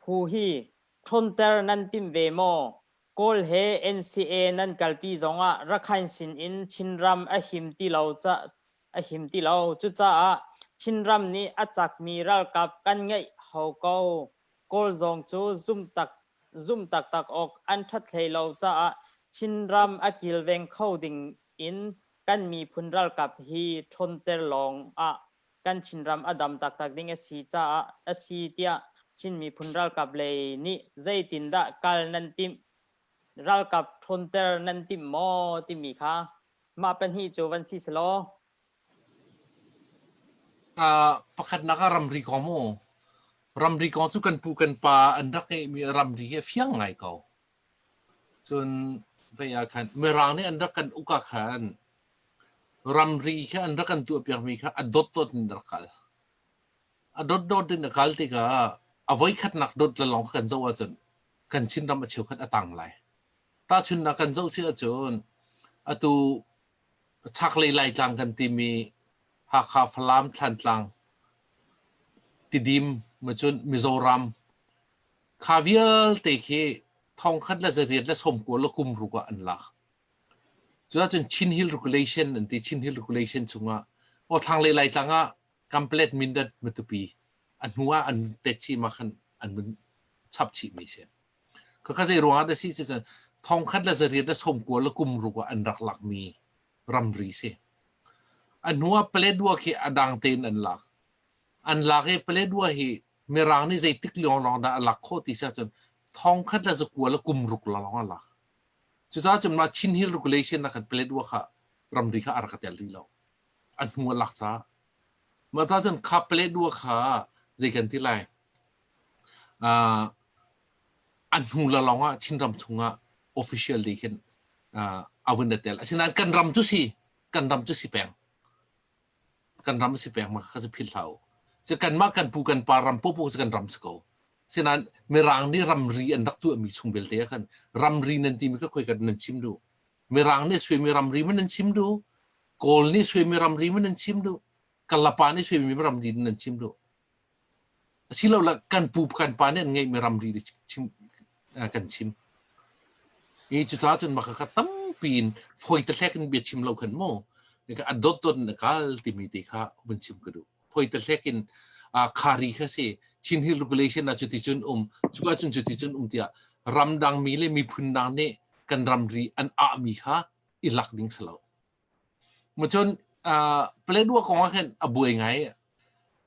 phu hi ṭhawnter nan timh ve maw? Kawl he NCA nan kalpi zongah Rakhain sinin Chinram a him ti lo ca a him ti lo. Cucaah Chinram nih a cakmi ralkap kan ngeih hau ko. Kawl zong cu zumhtak zumh taktak awk an ṭhat hlei lo caah Chinram a kilveng kho ding in kan miphun ralkap hi ṭhawnter lawng ah kan Chinram a dam taktak ding a si caah a si tiah Chin miphun ralkap lei nih zeitindah kal nan timh, ralkap ṭhawnter nan timh maw timi kha mah pahnih cu van si selaw. Uh, pakhatnak ah ramri kong mu. Ramri kong cu kan pu kan pa an rak ngeihmi ramri hi a fiang ngai ko. Cun vei ah khan Mirang nih an rak kan uk ah khan ramri khi an rak kan tuahpiakmi kha a dotdot in rak kal. A dotdot in a kal tikah a voikhatnak dot le lawng kha kan zoh ahcun kan Chinram a cheukhat a tang lai. Tahchunhnak kan zoh si ahcun atu chaklei Laitlang kan timi Hakha, Falam, Thlantlang, Tidim, Macun, Mizoram, Kha vialte khi thong khat le zariat le somkual le kum ruk ah an lak. Cuah cun Chin Hill Regulation an ti Chin Hill Regulation chungah o thlang le lai tlang ah complet mindat matupi an hnu ah an pet chi ma khan an mun chap chi mi se ka ka zei ruang da si se thong khat le zariat le somkual le kum ruk ah an rak lak mi ramri si an hnu ah plet dua khi adang ten an lak an lak i Paledua hi Mirang nih zeitik lionglong dah a lak khawh ti siah cun thong khat le zakua le kum ruk lawng a lak. Cucaah cun mah Chin Hill regulation nak khan Paledua kha ramri kha a rak tel rih lo. A hnu a lak caah. Mah caah cun kha Paledua kha zei kan ti lai. Uh, a hnu la lawng ah Chinram chungah official day khin uh, a vun tel. Asinain kan ram cu si, kan ram cu si peng. kan ram si peng ma kha si philh hlah u. Si kanmah kan pu kan pa ram popo si kan ram si ko. Sinain Mirang nih ramri an rak tuahmi chung belte ah khan ramri nan timi kha khoi kan nan chim du. Mirang nih suimi ramri ma nan chim du. Kawl nih suimi ramri ma nan chim du. Kalapa nih suimi ramri nan chim du. asiloah kan pu kan pa nih an ngeihmi ramri kan chim i cucaah cun maka kha tampi in foite hlek in bia chim lo khan mu a dot dot in a kal timi te kha vun chim ka duh foite hlek in khari kha si Chin Hill regulation ah cuti cun um cuka cun cuti cun um tiah ramdang mi le miphun dang nih kan ramri an ahmi kha i lak ding salo Macun uh, Paletwa kong ah khin a buai ngai.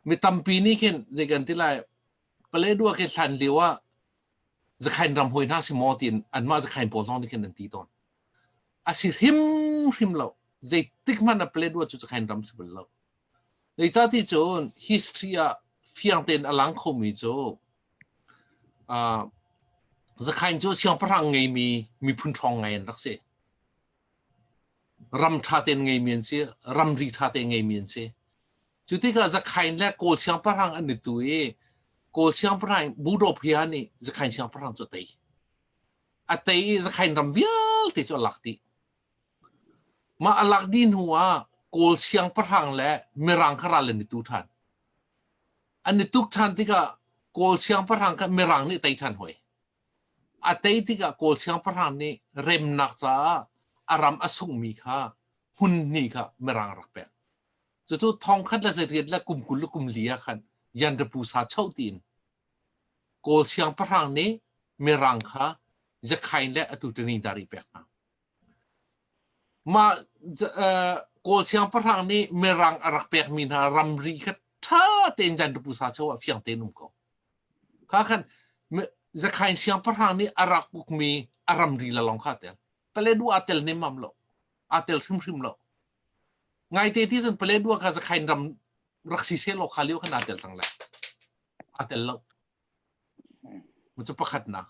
Mi tampi nih khin zei kan ti lai Paletwa ke hlan lio ah zakhain ram hoi hna si maw tiin anmah zakhain pawl zong nih khin an ti tawn. A si hrim hrim lo. Zeitik hmanh ah Paletwa cu zakhain ram si bal lo. Zeica ti cun history ah fiang tein a lang khomi cu uh, zakhain cu siangpahrang ngeimi miphun ṭhawng ngai an rak si. ram ṭha tein ngeimi an si, ramri ṭha tein ngeimi an si. Cu tikah Zakhain le Kawl siangpahrang an i tu i Kawl siangpahrang Budop hi nih Zakhain siangpahrang cu a tei. A tei i Zakhain ram vialte cu a lak dih. Mah a lak dih hnu ah Kawl siangpahrang le Mirang kha ral an i tu ṭhan. An i tuk ṭhan tikah Kawl siangpahrang kha Mirang nih a tei ṭhan hoi. a tei tikah Kawl siangpahrang nih remnak caah a ram a sungmi kha hmun hnih kha mirang rak pek. Cucu thongkhat le zeiriat le kum kul le kum li ah khan Yanrapu sa cho tiin Kawl siangpahrang nih mirang kha Jakhain le a tutani dari pek hna. Mah kawlsiang pahrang nih mirang a rak pekmi hna ramri kha ṭha tein Zaindu Pusa cheu ah fiang tein um ko. Kha khan zakhain siangpahrang nih a rak ukmi a ramri le lawng kha a tel. Paledua a tel nemmam lo. Aa tel hrimhrim lo. Ngaite ti cun Paledua kha zakhain ram rak si seh law kha lio khan aa tel cang lai. Aa tel lo. Cu pakhatnak.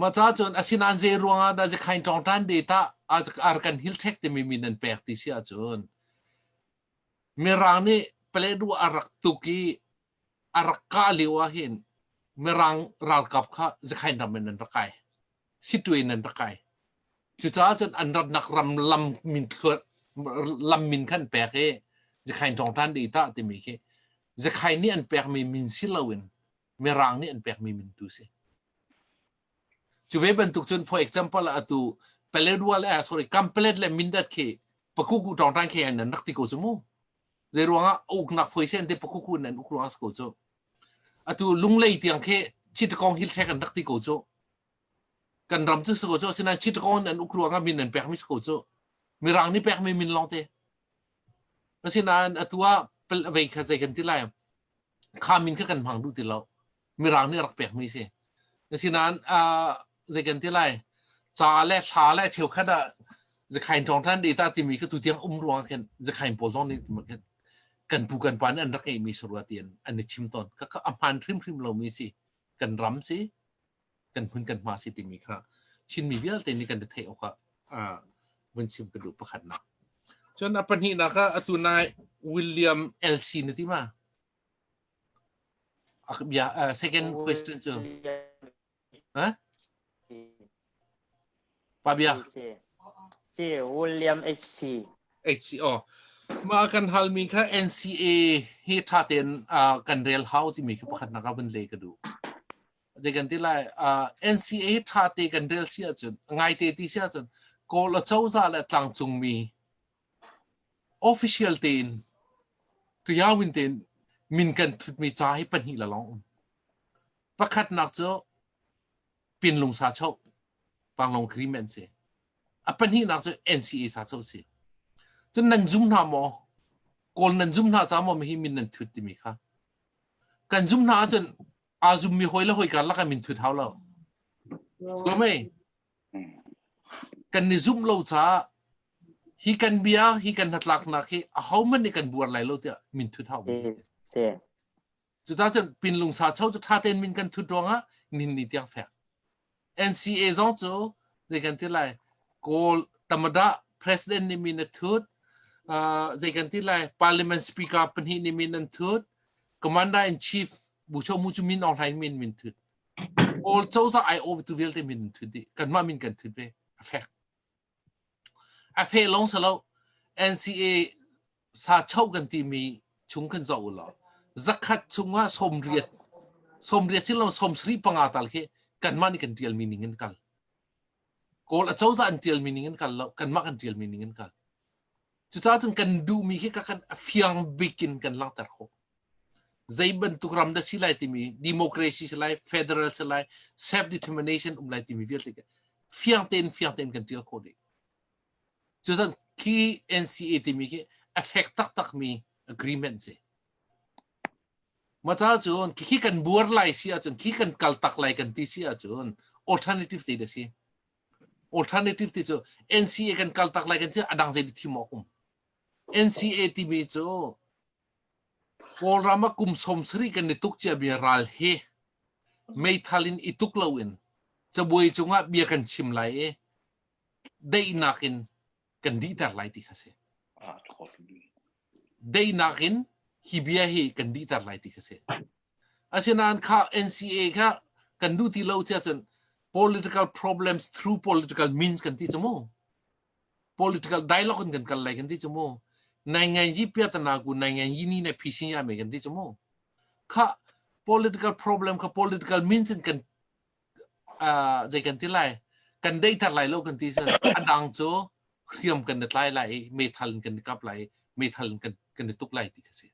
Maca cun asinain zei ruangah dah Zakhain tlawngtan data ar kan hilchek timi mi nan pek ti si ahcun Mirang nih Paledu a rak tuk i a rak kah lio ah hin Mirang ralkap kha Zakhain ram in an rak kai. Situe in an rak kai. Cucaah cun an ratnak ram lam min, lam min khan pek i Zakhain tlawngtan data timi khi Zekhai nih an pekmi min si loin Mirang nih an pekmi min tu si. Cu ve bantuk cun for example atu Paletwal eh sorry Kampelet le Mindat khi pakuku tawngtang khi an rak ti ko cu mu. Zei ruangah uknak foi sen te pakuku in an uk ruangah ko cu. Atu lunglei tiang khi chitakong hil thlek an rak ti ko cu. kan ram cu si ko cu asinain Chittagong an uk ruang ah min an pekmi si ko cu mirang nih pekmi min lawng te asinain atu ah vei kha zei kan ti lai kha min kha kan hmang duh ti lo mirang nih rak pekmi si asinain zei kan ti lai ca le thla le cheukhat ah zakhain thong than de ta timi kha tutiang um ruang khan zakhain pawl zong nih kan pu kan pa nih an rak ngeihmi sarua ti an i chim tawn ka a hman hrimhrim lomi si kan ram si kan phun kan hma si timi kha Chinmi vialte nih kan theih awk ah vun chim ka duh pakhat nak cun a pahnih nak ah atu nai William LC na ti ma a bia uh, second question cu ha Pabia. Si. Si, William HC. HC. Oh. Mah kan halmi kha NCA hi tha tein uh, kan rel hau timi ka pakhat na ka vun le ka du. Dei kan ti lai, uh, NCA tha te kan rel si ahcun, ngai te ti si ahcun, Kawl a coza le tlangcung mi official tein tuyawin tein min kan thutmi ca hi pahnih la long um. Pakhat nak cu pinlung sa cho panglong cream an si a pahnih nak cu NCA sa cho si cun nan zum hna maw kawl nan zum hna ca maw hi min nan thut timi kha kan zum hna ahcun aa zum mi hoi le hoi karlak ah min thut hau lo so mei kan ni zumh lo caah hi kan bia hi kan hnatlaknak hi a ho man nih kan buar lai lo tiah min thut hau mi si Cucang cun pinlung sa cho cu ṭha tein min kan thut ruangah nin ni tiang fek. NCA zong cu zei kan ti lai Kawl Tamada president nih min a thut zei kan ti lai parliament speaker pahnih nih min an thut commander in chief Bu Cho Mu cu min online min min thut Kawl cozah ai awh tu vialte min an thut dih kanmah min kan thut ve a fek A hre lawng si lo, NCA sa cho kan timi chung kan zoh u law zakhat chungah sawmriat sawmriat sin lo sawmsari panga tal khi kanmah nih kan ṭialmi ning in kal. Kawl acozah an ṭialmi ning in kal lo, kanmah kan ṭialmi ning in kal. Cucaah cun kan duhmi hi ka kan fiang bik in kan langhter khawh. Zei bantuk ram dah si lai timi, democracy si lai, federal si lai, self-determination um lai timi vialte fiang tein fiang tein kan ṭial khawh dih. Cucaah khi NCA timi khi effect taktakmi agreement si. Mata cun khi kan buar lai si ahcun, khi kan kal tak lai kan ti si ahcun, alternative ti da si. alternative ti cu NCA kan kal tak lai kan cu adang zei thim awk um NCA timi cu Kawlram a kum som sari kan ni tuk cia bia ral hi meithal in ituk lo in cabuai cungah bia kan chim lai i daihnak in kan dihter lai ti kha si deinak in hi bia hi kan dihter lai ti kha si asinain kha NCA kha kan duh ti lo cia cun political problems through political means kan ti chumu political dialogue in kan kal lai kan ti chumu nai ngai ji pia tana ku nai ngai ji ni ne phishing ya me kan ti chumu kha political problem kha political means in kan uh, zei kan ti lai kan dei thar lai lo kan ti sin adang cu hriam kan na tlai lai i metal in kan ni kap lai metal in kan kan ni tuk lai ti ka si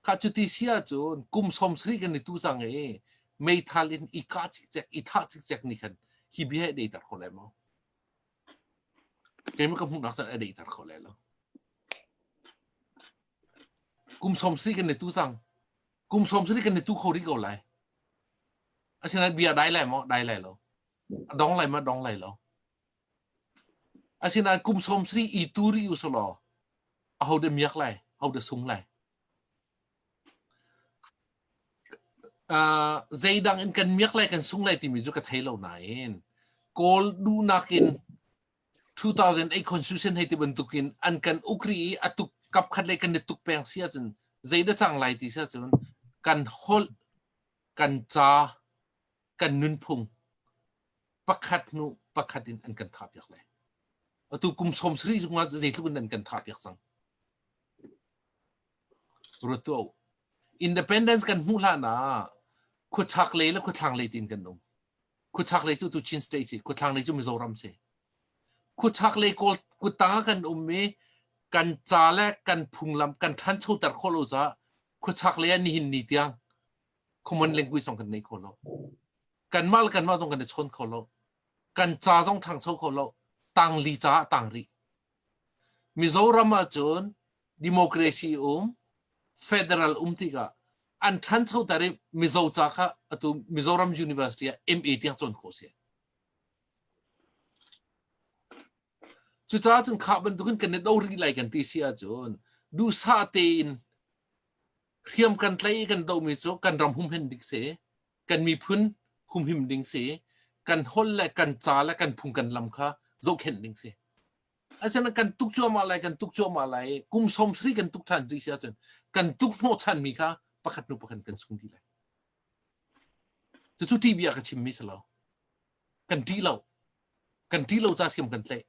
kha cu ti sia cu kum som sri kan ni tu sang e metal in i ka chik chek i tha chik chek ni khan hi bi he dei tar kho lai mo keima ka hmuh nak san dei tar kho lai lo kum som sri kan ni tu sang kum sawm sani kan ni tu kho rih ko lai asina bia dai lai mo dai lai lo dong lai ma dong lai lo asina kum sawm sani i tu ri usolo a ho de miak lai ho de sung lai uh, zeidang in kan miak lai kan sung lai timi chu ka thei lo nain kawl dunak in 2000 ei constitution hei ti bantuk in an kan uk ri i a tuk kap khat lei kan i tuk peng si ahcun zei da cang lai ti si ahcun kan holh kan ca kan nunphung pakhat hnu pakhat in an kan tha piak lai atu kum som sri zungah zeitluk in an kan tha piak cang rutu independence kan hmuh hlan ah khuachak lei le khuathlang lei tin kan um khuchak lei cu tuchin state si khuthlang lei cu mizoram si khuchak lei kawl kuta kan um i kan ca le kan phunglam kan ṭhancho ter khawh lo caah khuchak lei ah nihin ni tiang common language zong kan nei kho lo kanmah le kanmah zong kan i chawn kho lo kan ca zong ṭhangcho kho lo tangli ca ah tang rih Mizoram ahcun democracy um federal um tikah an ṭhancho ter i Mizo ca kha atu Mizoram University ah MA tiang cawn khawh a si. Cucaah cun kha bantukin kan i do rih lai kan ti si ahcun duhsah tein hriam kan tlai i kan dohmi cu kan ram humhen dik si. kan miphun humhim ding si kan holh le kan ca le kan phung kan lam kha zohkhenh ding si asina kan tuk cuahmah lai kan tuk cuahmah lai kum som sri kan tuk than ding si ahcun kan tuk hnawh chan mi kha pakhat nu pakhat kan sung dih lai cucu tv ah ka chim mi salo kan ṭih lo kan ṭih lo ca thiam kan tleh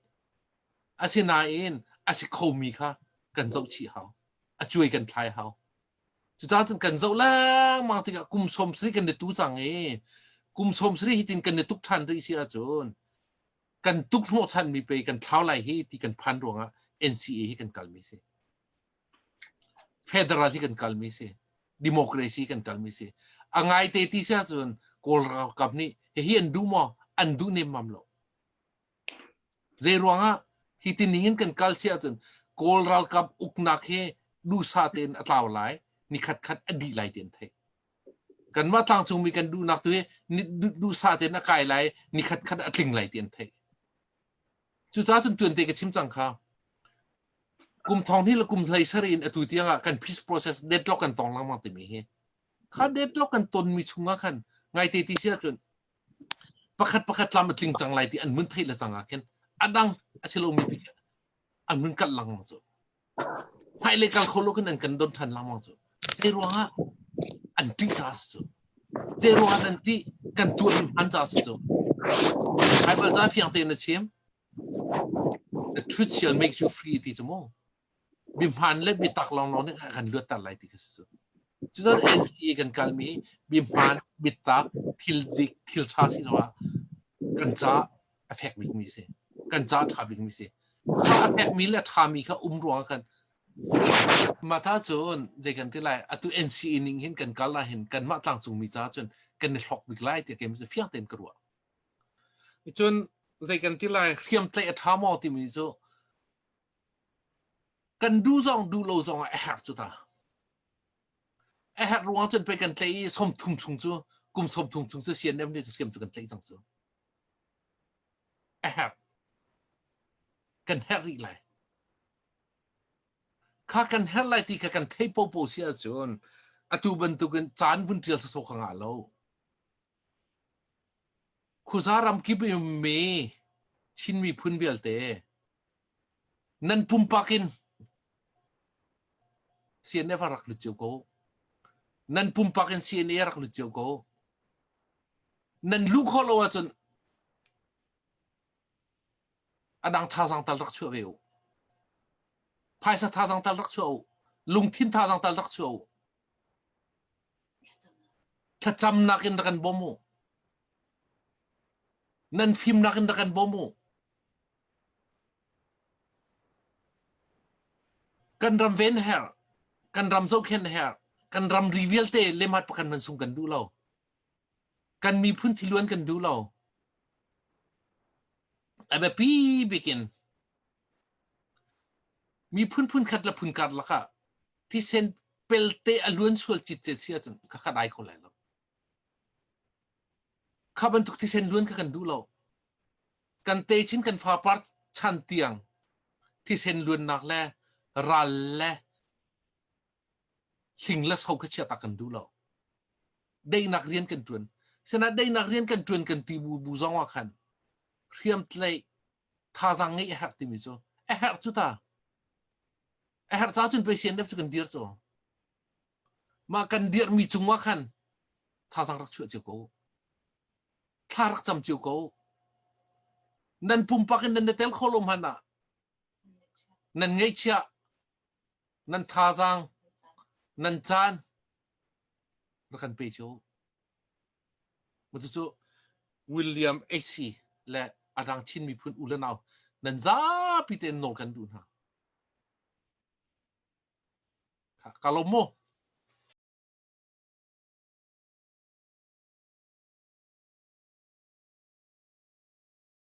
asinain a si kho mi kha kan zoh chih hau a cuai kan thlai hau Cucaah cun kan zoh lengmang tikah kum sawm sari kan i tu cang i kum sawm sari hitin kan i tuk ṭhan rih si ahcun kan tukhnawhchanmi pei kan thlau lai hi ti kan phan ruangah NCA hi kan kalmi si. Federal hi kan kalmi si. Democracy kan kalmi si. A ngaite ti si ahcun Kawl ralkap nih hihi an duh maw? An duh nemmam lo. Zeiruangah hi ti ning in kan kal si ahcun Kawl ralkap uknak hi duhsa tein a tlau lai ni khat khat a dih lai ti an theih. Kanmah tlangcungmi kan duhnak tu hi duhsa tein a kai lai ni khat khat a tling lai ti an theih. Cucaah cun tuan te ka chim cang kha. Kum thong hi le kum hlei sari in atu tiang ah kan peace process deadlock kan tong lengmang timi hi. Kha deadlock kan tonmi chungah khan ngai te ti si ahcun pakhat pakhat lam a tling cang lai ti an vun theih le cang ah khin a dang a si lomi bik an vun kalh langmang cu phai le kal kho lo khin an kan don ṭhan langmang cu zei ruangah an ṭih caah cu zei ruangah an ṭih kan tuah in hman caah cu Bible ca fiang tein a chim the truth shall make you free ti cu mu mihman le mitak lawnglawng nih a kan luatter lai ti kha si cu. Cucun NCA kan kalmi mihman, mitak, thil dik, thil ṭha siloah kan ca a fek bikmi a si. Kan ca ṭha bikmi a si. Cu a fekmi le ṭhami kha um ruangah kan mah ca cun zei kan ti lai atu NCA ning hin kan kal ahhin kanmah tlangcungmi caah cun kan i hlok bik lai tiah kei fiang tein ka ruah. Cun zei kan ti lai hriamtlaih a ṭha maw timi cu kan duh zong duh lo zong ah a herh cu ta a herh ruang cun pei kan tleih i som thum chung cu kum som thum chung cu CNM nih siam cu kan tleih cang cu a herh kan herh rih lai kha kan herh lai ti kha kan theih pohpoh si ahcun atu bantukin caan vun ṭial sawsawh ka ngah lo Khuza ramkip i ummi Chin miphun vialte nan pumpak in CNF ah rak lut cio ko. Nan pumpak in CNA rak lut cio ko. Nan luh khawh lo ahcun adang thazang tal rak chuah ve u. Phaisa thazang tal rak chuah u. Lungthin thazang tal rak chuah u. Thlacamnak in rak kan bawm u. Nan fimnak in rak kan bawm u. Kan ram ven her, kan ram zohkhen her, kan ram ri vialte lemat pakan man sung kan duh lo. Kan miphun thiluan kan duh lo. A biapi bikin Mi phunphun khat le phun karlak ah thisen pelte a luan sual citcet si ahcun ka khat ai kho lai lo. Kha bantuk thisen luan kha kan duh lo. Kan techin kan fapar chan tiang thisen luannak le ral le hling le so kha chia tak kan duh lo. Deinak rian kan tuan. Sena deinak rian kan tuan kan ti bu bu zong ah khan hriamtlei thazaang ngeih a herh timi cu a herh cu ta a herh caah cun pei CNF cu kan dir cu mah kan dirhmi cungah khan thazaang rak chuah cio ko thla rak cam cio ko nan pumpak in nan tel kho lo hman ah nan ngeihchia nan thazaang nan caan rak kan pe cio Cucu William Acey le a dang Chin miphun u le nau nan zapi tein nawl kan duh hna. Kha ka lawm mu.